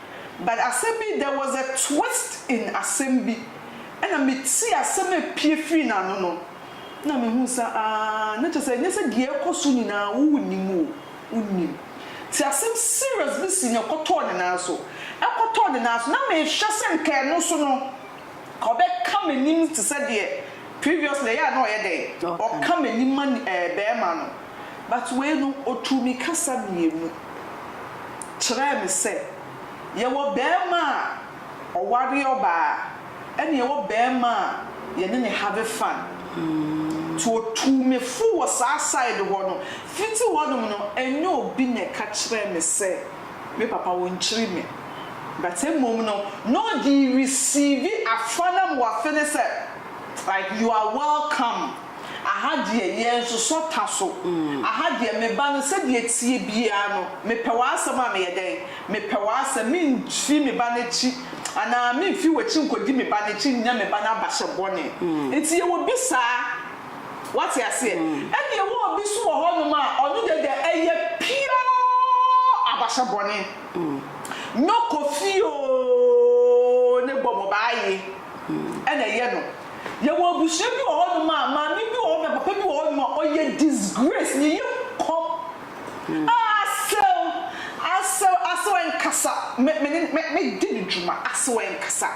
but asɛm bi there was a twist in asɛm bi ɛna me tie asɛm a ɛpie firi n'ano no na me hu sɛ aah na kyerɛ sɛ ɛnyɛ sɛ deɛ ɛrekɔ so nyinaa wo wo nim o wo nim nti asɛm serious bi si na ɛkɔtɔɔ ne nan so ɛkɔtɔɔ ne nan so na me hwɛ sɛ nka ɛno so no nka ɔbɛka m'anim te sɛ deɛ previously ɛyɛ a na ɔyɛ dɛn ɔka m'anim ma ɛɛ bɛɛma no. But wei no ɔtuu me kasa mmienu kyerɛɛ me sɛ yɛwɔ barima a ɔware ɔbaa ɛna yɛwɔ barima a yɛne no have fun. Nti ɔtuu me fo wɔ saa side hɔ no. Fiti hɔ nom no ɛnyɛ obi na ɛka kyerɛɛ me sɛ me papa ɔnkyiri me. But mmom no na ɔde receive afa no ama wafe no sɛ like you are welcome. Aha deɛ yɛn sosɔ ta so. Aha deɛ me ba no sɛdeɛ ɛteɛ biara no mepɛ w'asɛm a meyɛ dɛn? Mepɛ w'asɛm, memfi me ba no akyi anaa memfi w'akyi nkɔdi me ba no akyi nnya me ba no abahyɛ bɔne. Nti yɛwɔ bi saa. Woate aseɛ? Ɛnna yɛwɔ obi nso wɔ hɔnom a ɔno deɛ deɛ ɛyɛ pure abahyɛ bɔne. Nyɔ kɔ fie oo ne bɔ mmɔbaa aye ɛna ɛyɛ no. Yɛwɔ abusua bi wɔ hɔ nom a maame bi wɔ hɔ nom a papa bi wɔ hɔ nom a ɔyɛ disgrace ne yam kɔm aa asɛw asɛw asɛw ɛnkasa me me ne me me di ne dwuma asɛw ɛnkasa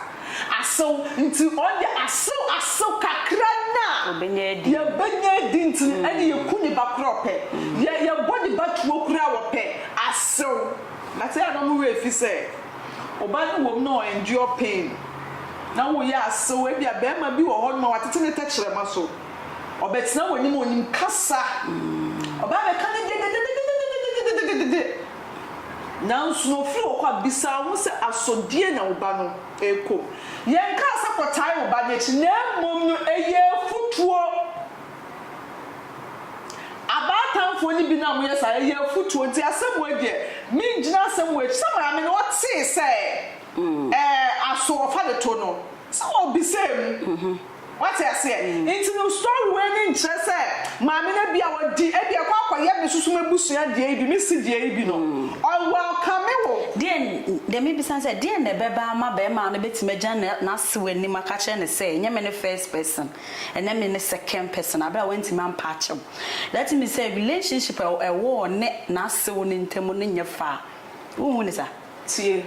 asɛw nti ɔn deɛ asɛw asɛw kakra no a Ɔbɛnya adi. yɛ bɛnya adi nti no ɛne yɛ ku ne ba koraa ɔpɛ yɛ yɛ bɔ ne ba tuo koraa ɔpɛ asɛw but ɛyɛ a na ɔmo werɛ fi sɛ. Ɔbaa no wom na ɔ endure pain na wo yɛ asew ebia bɛɛma bi wɔ hɔ noma watete ne tɛkyerɛma so ɔbɛtena wanim onim kasa ɔbaa bɛka ne dededededededededededede nanso na ofiri hɔ kɔ a bisa wo ho sɛ aso deɛn na wo ba no rekɔ mu yɛnkaa sɛ kɔtae wo ba no akyi na mmom no ɛyɛ afutuo Abaatanfoɔ no bi no a moyɛ saa, ɛyɛ afutuo, nti asɛm wei deɛ, mengyina asɛm wei akyi. Sɛ maame no, ɔtee sɛ ɛɛ aso ɔfa de to no, sɛ ɔbisaa mu. Wate aseɛ? Nti no story wei no nkyerɛ sɛ maame no bi a ɔdi, ebi a ɛkɔ akɔyɛ me soso m'abusua deɛ yi bi, me se deɛ yi bi no, ɔ welcome wo. Deɛn, deɛ mebisa ne sɛ, deɛn na ɛbɛba ama barima no bɛtumi agyina n'ase w'anim aka akyerɛ no sɛ, ɛnyɛ me ne first person? ɛnɛ me ne second person aberɛ a wantumi ampa akyɛw that means sɛ relationship a ɛwɔ ɔne n'asew no ntam no nyɛ fɛ a wonhu no saa? Tie,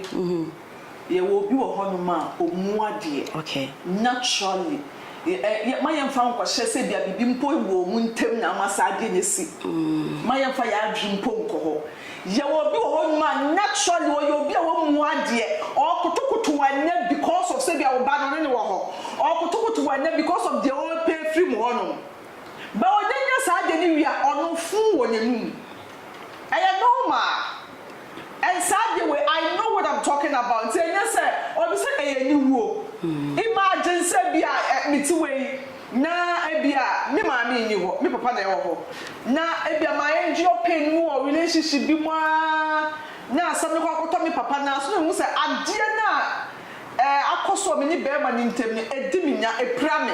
yɛwɔ obi wɔ hɔnom a ɔmu adeɛ, naturally, mma yɛmfa nkɔhyɛ sɛ ebia biribi mpo wɔ wɔn ntam na ama saa adeɛ no asi, mma yɛmfa yɛn adwene mpo nkɔ hɔ. Yɛwɔ obi wɔ hɔ nom a naturally ɔyɛ obi a ɔmmu adeɛ, ɔɔkotokoto wo ɛnnɛ because of sɛ ebia wo ba no ɔne no wɔ hɔ, ɔɔkotokoto wo ɛnnɛ because of deɛ ɔɔpɛ afiri mo hɔ nom. But ɔnya nya saa adeɛ no wie a, ɔno fuu wɔ n'anum. Ɛyɛ normal. And saa adeɛ wei I know what I'm talking about nti ɛnyɛ sɛ ɔno sɛ ɛyɛ aniwuo. Imagine sɛ ebia me te wei Na ebia me maame nni hɔ, me papa na ɛwɔ hɔ. Na ebia ma endure pain no mu wɔ relationship bi mu ara na asɛm no kɔ akɔtɔ me papa nan so na mehu sɛ adeɛ no a eh, akɔ so wɔ me ne barima no ntam no, ɛdi me nya, ɛpira me.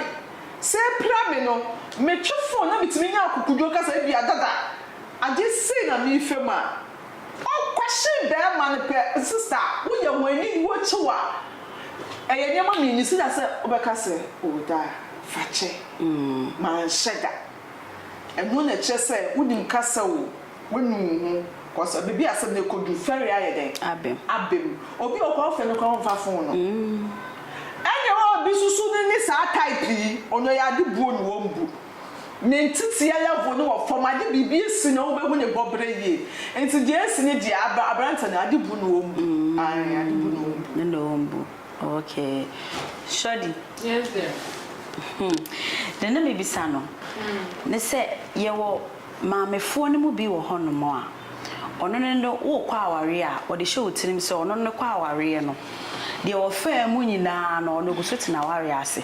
Sɛ ɛpira me no, metwe phone na metumi nya akokoduo ka sɛ ebia dada, adeɛ sei na merefa mu a, Ɔkɔhye bɛɛma no pɛ sista woyɛ ho aniwuo kyew a ɛyɛ nneɛma mmienu sida sɛ wobɛka sɛ oh daa fakyɛ manhyɛ da ɛno na ɛkyerɛ sɛ wonim kasa o wanu wo ho cause baabi a asɛm no ɛkɔduru fɛre ayɛ dɛn abem obi wɔ hɔ koraa wofrɛ no koraa ɔmfa fon no ɛne obi susu no ne saa type yi ɔno ɛyɛ ade buo na wɔmbu. Ne nteteɛ level no wɔ fam, ade biribi asi no a wobɛhu ne bɔberɛ yie. Nti deɛ asi no deɛ abra aberanteɛ no ade bu no wɔn bu. Ae ade bu no wɔn bu. Ne wɔn bu. Okay. Shorty. Yes dear. Hmm. Deɛ na mebisa no ne sɛ yɛwɔ maamefoɔ no mu bi wɔ hɔnom a ɔno no no worekɔ awareɛ a ɔde hyɛ wo tirim sɛ ɔno no kɔ awareɛ no deɛ ɔfaa mu nyinaa no ɔno ɔgu so te n'awareɛ ase.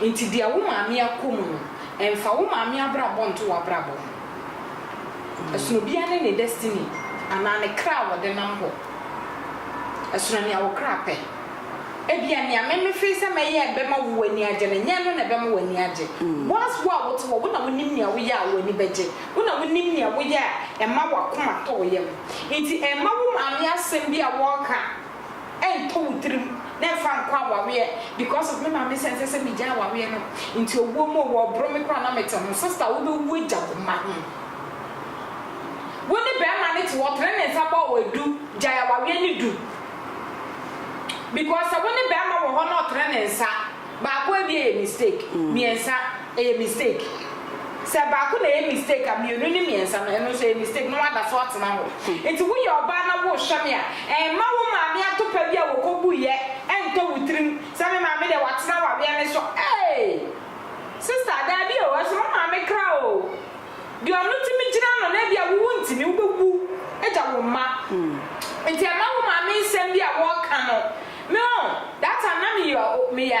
Enti deɛ wo maame akɔ mu no, mfa wo maame abrabɔ nto w'abrabɔ ho. Ɛsono obiara ne ne destiny anaa ne kra a wɔde nam hɔ. Ɛsono nea wo kra pɛ. Ebia nea me mefee sɛ mɛyɛ a ɛbɛma wo w'ani agye no, nyɛ ɛno na ɛbɛma w'ani agye. Whilst wo a wote hɔ, wo na wonim nea woyɛ a w'ani bɛgye. Wo na wonim nea woyɛ a ɛma w'akoma tɔ wo yam. Enti mma wo maame asɛm bi a wɔreka, ɛntɔ wo tirim na ɛmfa nkɔ awareɛ because of me maame sɛ ɛnsɛ sɛ megyae awareɛ no nti owuo mu o wɔreboro me koraa na mete ho sister wobɛwu agya wo mma ho wo ne barima no te hɔ ɔtene ne nsa bɔ wo adu gyae awareɛ no du because sɛ wo ne barima wɔ hɔ na ɔtene ne nsa baako awie yɛ mistake mmiɛnsa Ɛyɛ mistake. Sɛ baako na ɛyɛ mistake a, mmienu ne mmiɛnsa no, ɛno nso ɛyɛ mistake na wɔada so atena hɔ. Enti woyɛ ɔbaa na worehwɛ me a, mma wo maame atopa bi a wɔkɔbuiɛ ntɔ wo tirim sɛ me maame deɛ watena awareɛ no so. Ee! Sista, daabi o, ɛsom wo maame kra o. Deɛ ɔno tumi gyina ano no, ebia wo wontumi, wobɛwu agya wo mma. Enti mma wo maame nsɛm bi a wɔka no, me o, that time na meyɛ, meyɛ.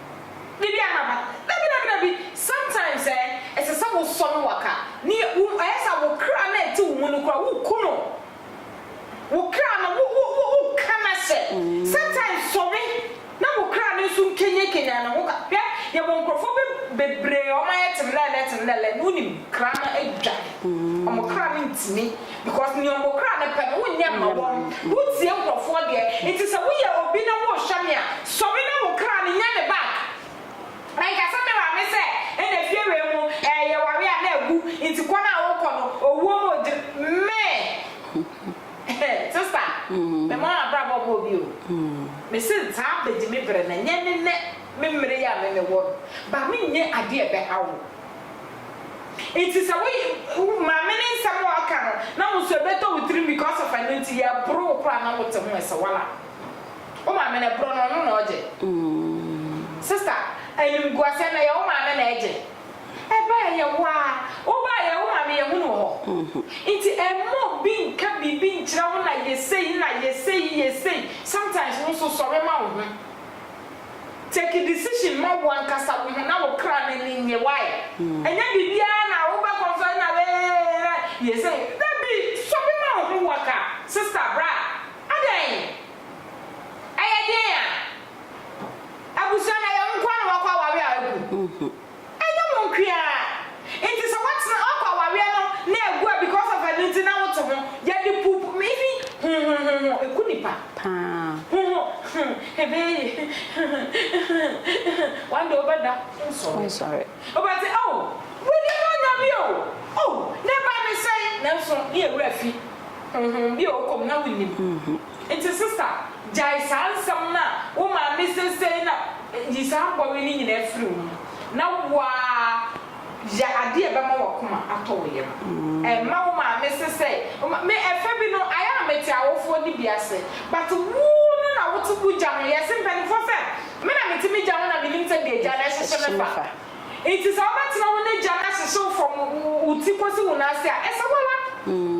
Biribi a na aba. Dabi dabi dabi, sometimes eh, ɛsɛ sɛ wo sɔ no waka, ne wo ɛyɛ sɛ wo kra no a ɛte wo mu no koraa wo ku no, wo kra no wo wo wo wo ka no ahyɛ, sometimes sɔre na wo kra no nso nkenyan kenyan ne ho ka, hwɛ yɛ wɔ nkorɔfoɔ be bebree a wɔn ayɛ temlɛɛlɛ temlɛɛlɛ no wo nim kra no adwane, wɔn kra no ntumi. Because nea ɔmo kra no pɛ no wonyɛ mma wɔn, wotie nkorɔfoɔ deɛ, nti sɛ woyɛ obi na worehyɛ me a, sɔre na wo kra no nyɛ me back. Ɛnka sɛ me maame sɛ ɛna fie wei mu ɛɛ yɛware a na agu, nti kɔ no a wokɔ no owuo mu ɔdi me sister me mɔ abrabɔ bɔɔ bi o, me se saa bɛdi me berɛ na nyɛ ne nɛ me mmere yi a me mewɔ no, ba me nyɛ adeɛ a ɛbɛha wo. Nti sɛ wo wo maame ne nsɛm a ɔka no na wo nso ɛbɛtɔ wo tirim because of ɛno nti yɛ boro wo koraa na wote ho ɛsɛ wala wo maame na ɛboro no ɔno na ɔgye sister animguaseɛ na ɛyɛ wo maame na ɛgye ɛba ɛyɛ wo aa wo ba ɛyɛ wo maame yɛhu no wɔ hɔ nti ɛmma obi nka biribi nkyerɛ wo na yɛ sei na yɛ sei yɛ sei sometimes wo nso sɔre ma wo ho. Take decision ma wo ankasa wo ho na wo kra no ani nnye why? Ɛnyɛ biribiara na wo bɛ confess na eeii na yɛ sɛ wo dabi sobi ma wo ho wo aka sister bra adɛn ɛyɛ deɛn a abusua no ɛyɛ wo nkoa na wakɔ awareɛ a agu. Ɛnyɛ mo nkoaa nti sɛ watena wakɔ awareɛ no na ɛgu a because of ɛno nti na woto ho yɛde puup me hi ho ho ho ho ɛku nipa paa ho ho ho ɛbɛyɛ yie ho ho ho ho one day wobɛda wonsɔre wobɛte oh wei deɛ na ɔnya bi oo oh ne ba ne sɛn nanso ne yɛ werɛ afi ho ho bi a ɔkɔ mu na wonnim. Nti sista gyae saa nsɛm no a wo maame seesei na yi saa bɔwe no nyinaa firi wo mu na woaa yɛ adeɛ a ɛbɛma w'akoma atɔ wo yam. Ɛmma wo maame sesɛe. Me ɛfɛ bi no ayɛ a mete awofoɔ no bi ase but wo no na wote wo gya ho yɛse mpaninfoɔ sɛ me na mete me gya ho na menim sɛdeɛ agya no ɛhyehye me fa nti sɛ wobɛtena wo ne gya no ahyehye wo from wo ti kɔsi wo nan ase a ɛsɛ wo ara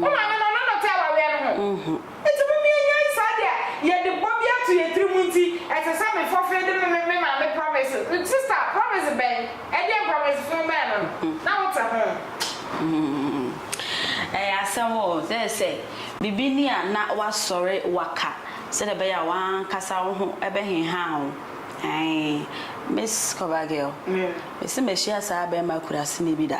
wo maame no ɔno na ɔte awareɛ no ho. Enti momma yɛnyɛ saa de a yɛde bɔ bi ato yɛn tirim nti, ɛsɛ sɛ me fɔfee de me me maame promise no sister promise bɛn? Ɛdeɛn promise fon bɛn no na wote ho? Ɛyɛ asɛm o, na ɛsɛ biribi ni a na woasɔre woaka sɛdeɛ ɛbɛyɛ a woankasa wo ho bɛhehaa wo ae Miss Cover Girl, mese mahyia saa bɛɛma akuraseni bi da.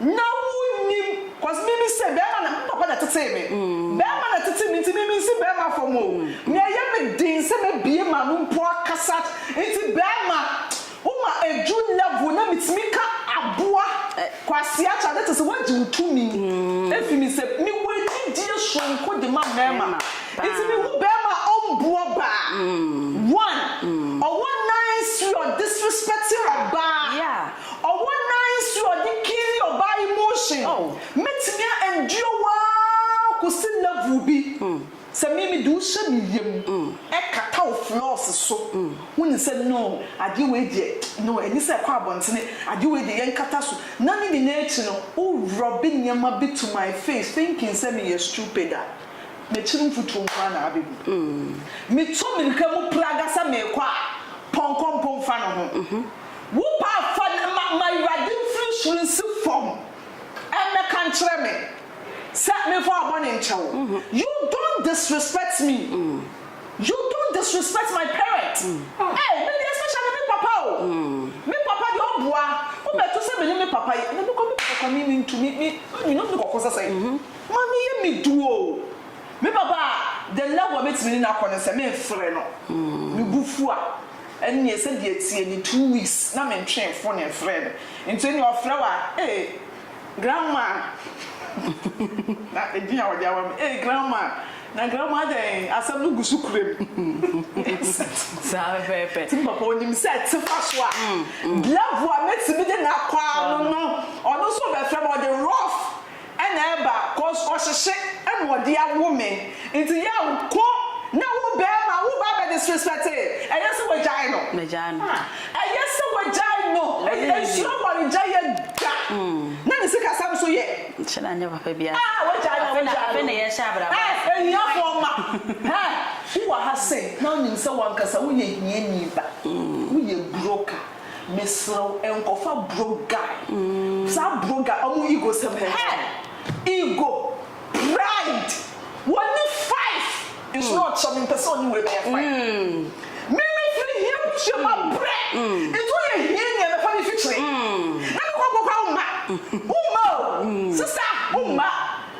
Na wo nnim cos me me se bɛɛma na me papa na tetee me bɛɛma na tete me nti me me nsi bɛɛma fam o na ɛyɛ me den sɛ mɛ bie m'ano mpo akasat nti bɛɛma wo ma ɛdu level na me tumi ka aboa kwasea kya ne te se wagye wo tumi ɛfi me sɛ me wɔ anidie soronko de ma mɛɛma nti me hu bɛɛma a ɔmboa baa one ɔwɔ nice you are disrespecting ɔbaa. Ɔwɔ nan nso a ɔde kiri ɔbaa emotion mɛtumi a endure wo aa kɔsi level bi sɛ me mede wo hyɛ me yam ɛkata wo floors so wo nim sɛ no adeɛ wei deɛ no ɛni sɛ ɛkɔ abɔntene adeɛ wei deɛ yɛnkata so na ne nyinaa akyi no wo rub nneɛma bi to my face thinking sɛ me yɛ stupid a m'akyiri mfutuo nko ara na abɛ gu me tu mirika mu praga sɛ meekɔ a pɔnkɔ mpo mfa ne ho. Wo paa fa no ma ma Awurade mfiri soro nsi fam mmɛka nkyerɛ me sɛ memfa w'abɔne nkyɛ wo. You don't disrespect me, you don't disrespect my parent. Ei, me deɛ especially me papa o, me papa deɛ ɔboa. Wobɛto sɛ me ne me papa yi, me kɔ me papa kɔ a, me mentu, me me you know me kɔkɔ sɛ sɛn. Ma me yɛ me du o. Me papa, the level a mɛtumi ne no akɔ ne sɛ memfrɛ no, me bo fu a, Ɛnneɛ sɛ deɛ ɛteɛ ni two weeks na me ntwee mfone mfrɛɛ no nti ɛnneɛ ɔfrɛ wo a ee grandma na edin a ɔde ama me ee grandma na grandma adɛn asɛm no gu so kura mu saa no pɛɛpɛ nti me papa ɔnim sɛ ɛtefa so a level a mɛtumi de no akɔ ara no no ɔno nso ɔbɛfrɛ me ɔde rough Ɛna ɛba cause ɔhyehye ɛna ɔde awo me nti yaw ko na wo bɛɛma wo ba bɛ disrespecte ɛyɛ sɛ wagyae no ɛyɛ sɛ wagyae no nsuro ware gya yɛ da na ne sika sɛm so yɛ ah wagyae na wagyae no eh ahiafoɔ ma eh wo wɔ ha sɛ na wonim sɛ wankasa woyɛ hiani ba woyɛ broka. Mesrɛ wo nkɔfa bro guy saa bro guy ɔmo ego sɛm hɛ hɛ ego pride wɔne five nso na ɔkyerɛ me mpɛ sɛ ɔne wei bɛyɛ five me me firi hia butua ma brɛ nti woyɛ hia ni a mɛfa me fikyire na me kɔ kɔ kɔ wo mma wo mma o sesa wo mma.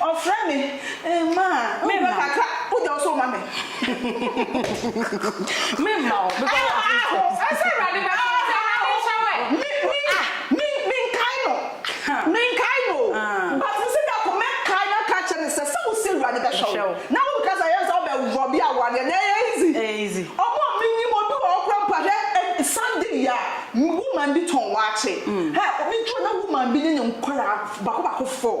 Ɔfrɛ me mma a, memmɔ kakra wogya wo so ma me. Memma wo because of his sake. Aho, ɛsɛ Awurade bɛka wo sɛ na me nhyɛ wo ɛ. Me, me, me, menkae no, menkae no o, but me sɛ biako mɛkae no aka akyerɛ no sɛ, sɛ wo sɛ Awurade bɛhwɛ wo, na wo nka sɛ ɛyɛ sɛ wobɛwɔ bi awareɛ no, ɛyɛ easy. Ɛyɛ easy. Ɔmo a menim, obi wɔ hɔ koraa mpo a, hwɛ, Sunday yi a, woman bi tɔn waakye, hɛ, obi tɔn na woman bi ne ne nkwadaa baako baako four.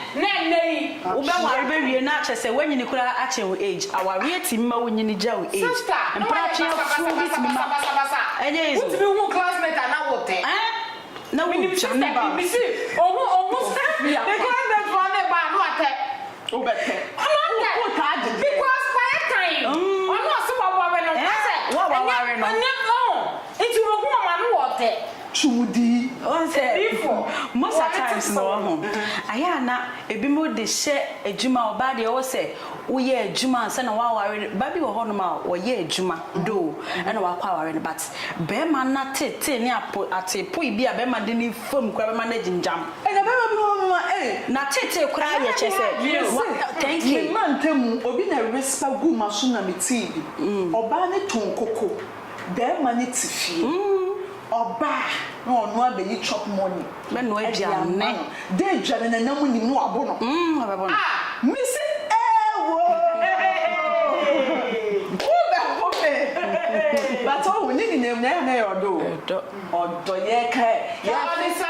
Na ɛnnɛ yi wo bɛ ware bɛ wie na akyɛ sɛ wanyini koraa akyɛn wo age awareɛ ɛtimi ma wo nyini gya wo age mpratwe afuo bi timi ma ɛyɛ easy wo ɛɛn na wo gyane ba wo se wo taa dedeɛ mm ɛɛn wo a waware no. tumudi. Woahu sɛ, most at times no wahu, ayɛ a na ebinom de hyɛ adwuma, ɔbaa deɛ ɔwɔ sɛ woyɛ adwuma ansa na woaware no, ba bi wɔ hɔnom a ɔyɛ adwuma though ɛna wakɔ aware no but bɛrima no ateetee ne apo ateepoe bi a bɛrima de ne fam koraa bɛma no agyimgyam. Ɛna bɛrima bi wɔ hɔnom a ei. N'ateetee koraa yɛ kyerɛ sɛ wa thank you. Me mantamu obi na respa guu m'aso na metee bi, ɔbaa no too nkoko. Bɛɛma no tse fie, ɔba a na ɔno ara bɛyi chop money de ama no, dɛ edwa no nanamu nnyim na ɔabɔ no. A! Mese eewoo eeeii wo bɛho me but ohu ne nyinaa mu no ɛyɛ a na ɛyɛ ɔdɔ o, ɔdɔ yɛreka ɛ, yɛfease.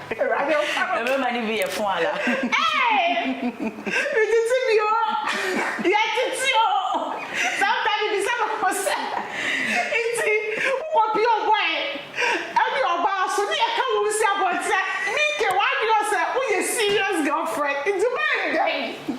Awurade wo ka me. Mmarima no bi yɛ fo ala. Me tete bi o, yɛ tete o. Saa bra mi bisa me ho sɛ, nti wokɔ pie ɔbɔe ɛne ɔbaa so ne yɛ ka wo nsi abɔnten a, Mike w'adwene ɔ sɛ woyɛ serious girlfriend, nti bɛn dɛn?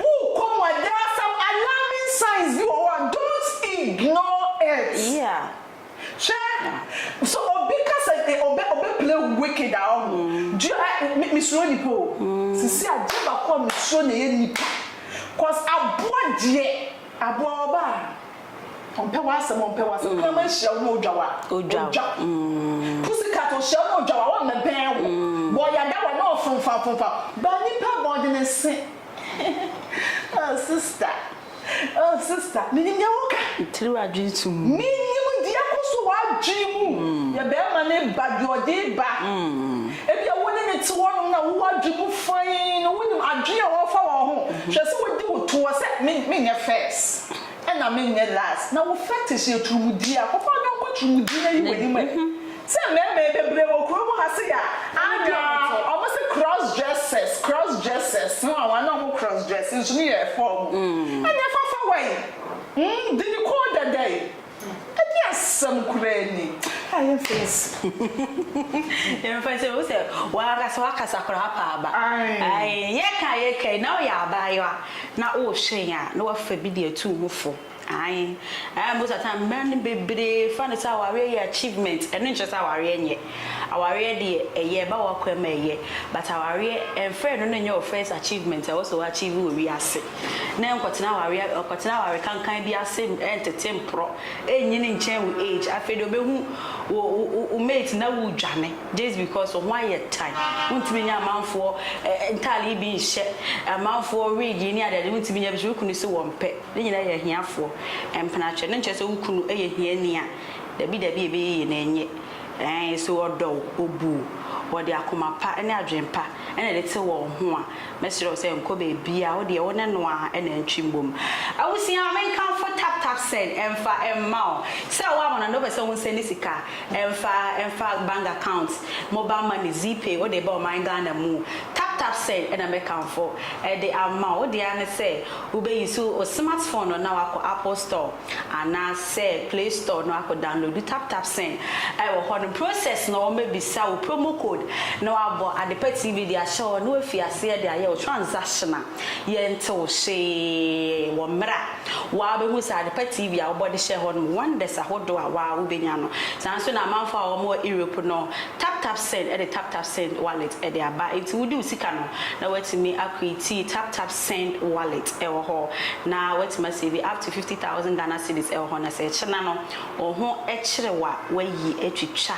Wokɔ mu a there are some alarming signs bi wɔ hɔ a don't ignore it. Hwɛ, sɛ obi ka sɛ ɔbɛ ɔbɛ play wo wicked a ɔho, do you ɛ me me suro nipa o, sisi adeɛ baako a me suro na ɛyɛ nipa, cause aboa deɛ aboa ɔbaa. Ɔmpɛ w'asɛm ɔmpɛ w'asɛm kraman hyia wo na odwa wo a odwa Pussycat ohyia wo na odwa wo a ɔmmɛbɛn wo Bɔyada wo a na ɔfomfam fomfam But nipa bɔn de ne se Oh sister oh sister Minim deɛ woka Me tiri w'adwene to mu Minim deɛ ɛkɔ so w'adwene mu Yɛ bɛɛma ne ba deɛ ɔde ba Ebia wo ne no te hɔ nom na wowɔ adwene mu fann Wonim adwene a ɔfa wɔn ho Hwɛ sɛ wodi wo toɔ sɛ me menyɛ first Ɛna me nyɛ last na wo fetish yɛ turumudie a kɔfa ɔyɔnko turumudie na yi w'anim ɛ sɛ mmɛɛma yɛ bebree wɔ kuro mu ha se yɛ a anwaa ɔmo se cross dressers cross dressers ho anwaa na ɔmo cross dress nso ne yɛ ɛfɔɔ mu ɛnyɛ fafa wai mm didi koo dɛdɛi. Ɛnyɛ asɛm koraa ni. Ah yɛn face. Yɛn face wo sɛ wakasa wakasa koraa apa aba. Ayi yɛ ka yɛ ka yi na ɔyɛ abaayewa na ɔrehwɛ yɛn a na wafa bi de atu ho fo. Ayi ɛyɛ most of time mmaa no bebree fa no sɛ awareɛ yɛ achievement ɛno nkyerɛ sɛ awareɛ nyɛ. Awareɛ deɛ ɛyɛ ɛba wakɔ mu a ɛyɛ but awareɛ ɛnfrɛ ɛno no nyɛ wo first achievement a ɛwɔ sɛ wo achieve wɔ wiase. na ɛnkɔtena awareɛ ɛnkɔtena aware kankan bi ase ɛntete mporɔ ɛnyini nkyɛn wo age afei deɛ ɔbɛhu wo wo wo mate na wodwane just because wo ho ayɛ tan wontumi nyɛ amanfoɔ ɛ ntaade yi bi nhyɛ amanfoɔ wig yi ne adeade wontumi nyɛ bi hyɛ wo kunu se wɔmpɛ ne nyinaa yɛ ahiafoɔ mpena kyɛ no nkyerɛ sɛ wo kunu yɛ hiani a dabi dabi ɛbɛyɛ yie na ɛnyɛ ɛɛ so ɔdɔ wo ɔbu wo wɔde akoma pa ne adwene pa ɛna ɛde te wɔn ho a. Mɛsrɛ wo sɛ nkɔ baabiaa, wo deɛ wo ne no ara na atwi mbom. Abusua a menkamfo tap tap send ɛmfa mma wo. Sɛ woama no na wopɛ sɛ wo nsɛndi sika ɛmfa ɛmfa bank account, mobile money, Zeepay, wode reba ɔman Ghana mu, tap tap send ɛna mɛkamfo ɛde ama wo. Wo deɛ ara ne sɛ wobɛ use wo smart phone no na wakɔ apple store. Anaa sɛ play store no akɔ downloadu tap tap sɛn a ɛwɔ hɔ nom process na wɔn bɛbisa wo promo code na wabɔ adepa TV de ahyɛ hɔ na wafi aseɛ de ayɛ wo transaction a yɛnte wo hwee wɔ mmerɛ a waa bɛhu sɛ adepa TV a wobɔ de hyɛ hɔ nom wonders ahodoɔ a waa wo bɛnya no saa nso na amanfoɔ a wɔn wɔ Europe no tap tap sɛn de tap tap sɛn wallet de aba nti wode wo sika no na watumi akɔ itii tap tap send wallet ɛwɔ hɔ na watumi asave up to fifty thousand Ghana cedis ɛwɔ hɔ na sɛ ɛkyena no wo ho kyere wo a wayi atwitwa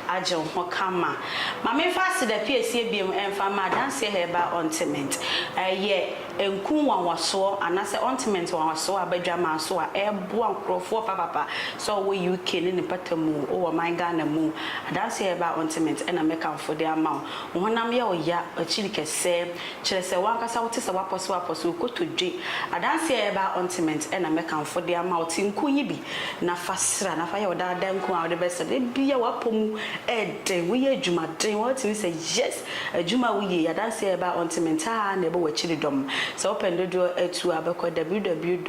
agye wo ho kama ma me mfa aseda piesie biom mfa ma adanseɛ herbal ointment ɛyɛ nku nwanwasoɔ anasɛ ointment nwanwasoɔ a badwaman so a ɛboa nkorɔfoɔ papapa sɛ ɔwɔ UK ne ne pata mu o wɔ man Ghana mu adanseɛ herbal ointment ɛna mɛkamfo de ama wo wo honam yɛ wo ya akyiri kɛsɛ Kyerɛ sɛ w'ankasa wote sɛ w'apɔsew apɔsew kotodwe. Adanse a ɛba ontiment na mɛkamfo de ama wo. Te nko yi bi na fa sra na fa yɛ wo daa daa nko a wode bɛsra. Da biara w'apɔ mu yɛ den, woyɛ adwuma den, woatumi sɛ yes. Adwuma a woyɛ yi, adanse a ɛba ontiment ara na ɛbɔ w'akyiridɔm. Sɛ wopɛ ne dodoɔ atu a, bɛkɔ www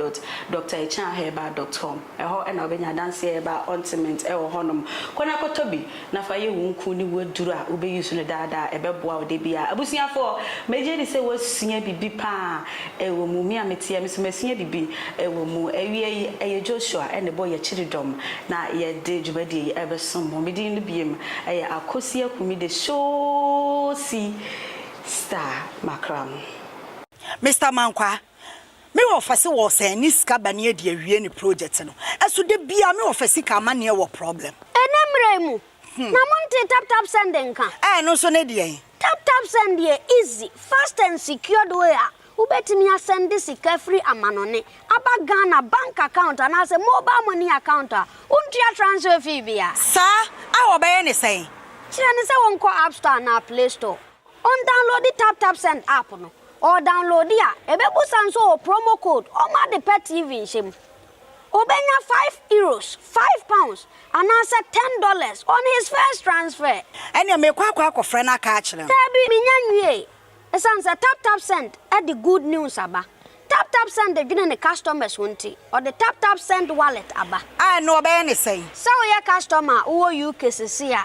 dot drachanherbal dot com. Ɛhɔ na wobɛnya adanseɛ a ɛba ontment wɔ hɔnom. Kɔ na kɔtɔ bi na fa yɛ wo nku ne wo aduro a wobɛ use no daa daa. Ɛbɛboa wo da biara. Abusuafoɔ, megye di sɛ woasua biribi paa wɔ mu. Me a mete ha me nso masua biribi wɔ mu. Awia yi, ɛyɛ Joshua na ɛbɔ yɛn kyiridɔm na yɛde dwumadie yi rebɛsom mo. Me din no biem yɛ Akosi Akumi the Showsi Star Makram. Mister Mankwah, Me wɔfa se wɔ sɛn ne sika ba ne adi awie ne project no ɛso da biaa me wɔfa sika amaneɛ wɔ problem. Ɛnɛ mmerɛ mu na mo ntee tap tap send nka. Ɛɛ ɛno nso ne deɛn? Tap tap send yɛ easy, fast and secured way a wobɛtumi asɛnde sika firi amanɔne aba Ghana bank account anaasɛ mobile money account a wontua transfer fee biara. Saa? A wɔbɛyɛ ne sɛn? Kyerɛ no sɛ wɔnkɔ App Store anaa Play Store. Ɔndownloadi TapTapSend app no, ɔɔdownloadi a, ɛbɛbusa no sɛ ɔwɔ promo code ɔma ade pɛ TV nhyɛ mu. Ɔbɛnya five Euros, five pounds, anaasɛ ten dollars on his first transfer. Ɛneɛ meekɔ akɔ akɔfrɛ no aka akyerɛ no. Daabi, mennya nwiee. Ɛsiane sɛ TapTapSend de good news aba. TapTapSend dwene ne customers ho nti, ɔde TapTapSend Wallet aba. A ɛnneɛ ɔbɛyɛ no sɛn? Sɛ woyɛ customer a wowɔ UK seesei a.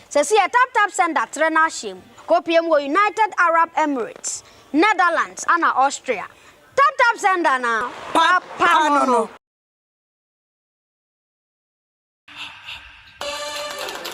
Sɛseyɛ TapTap Sender trɛ n'ahyeɛ mu kɔpue mu wɔ United Arab Emirates, Netherlands ana Austria. TapTap Sender na papa no no.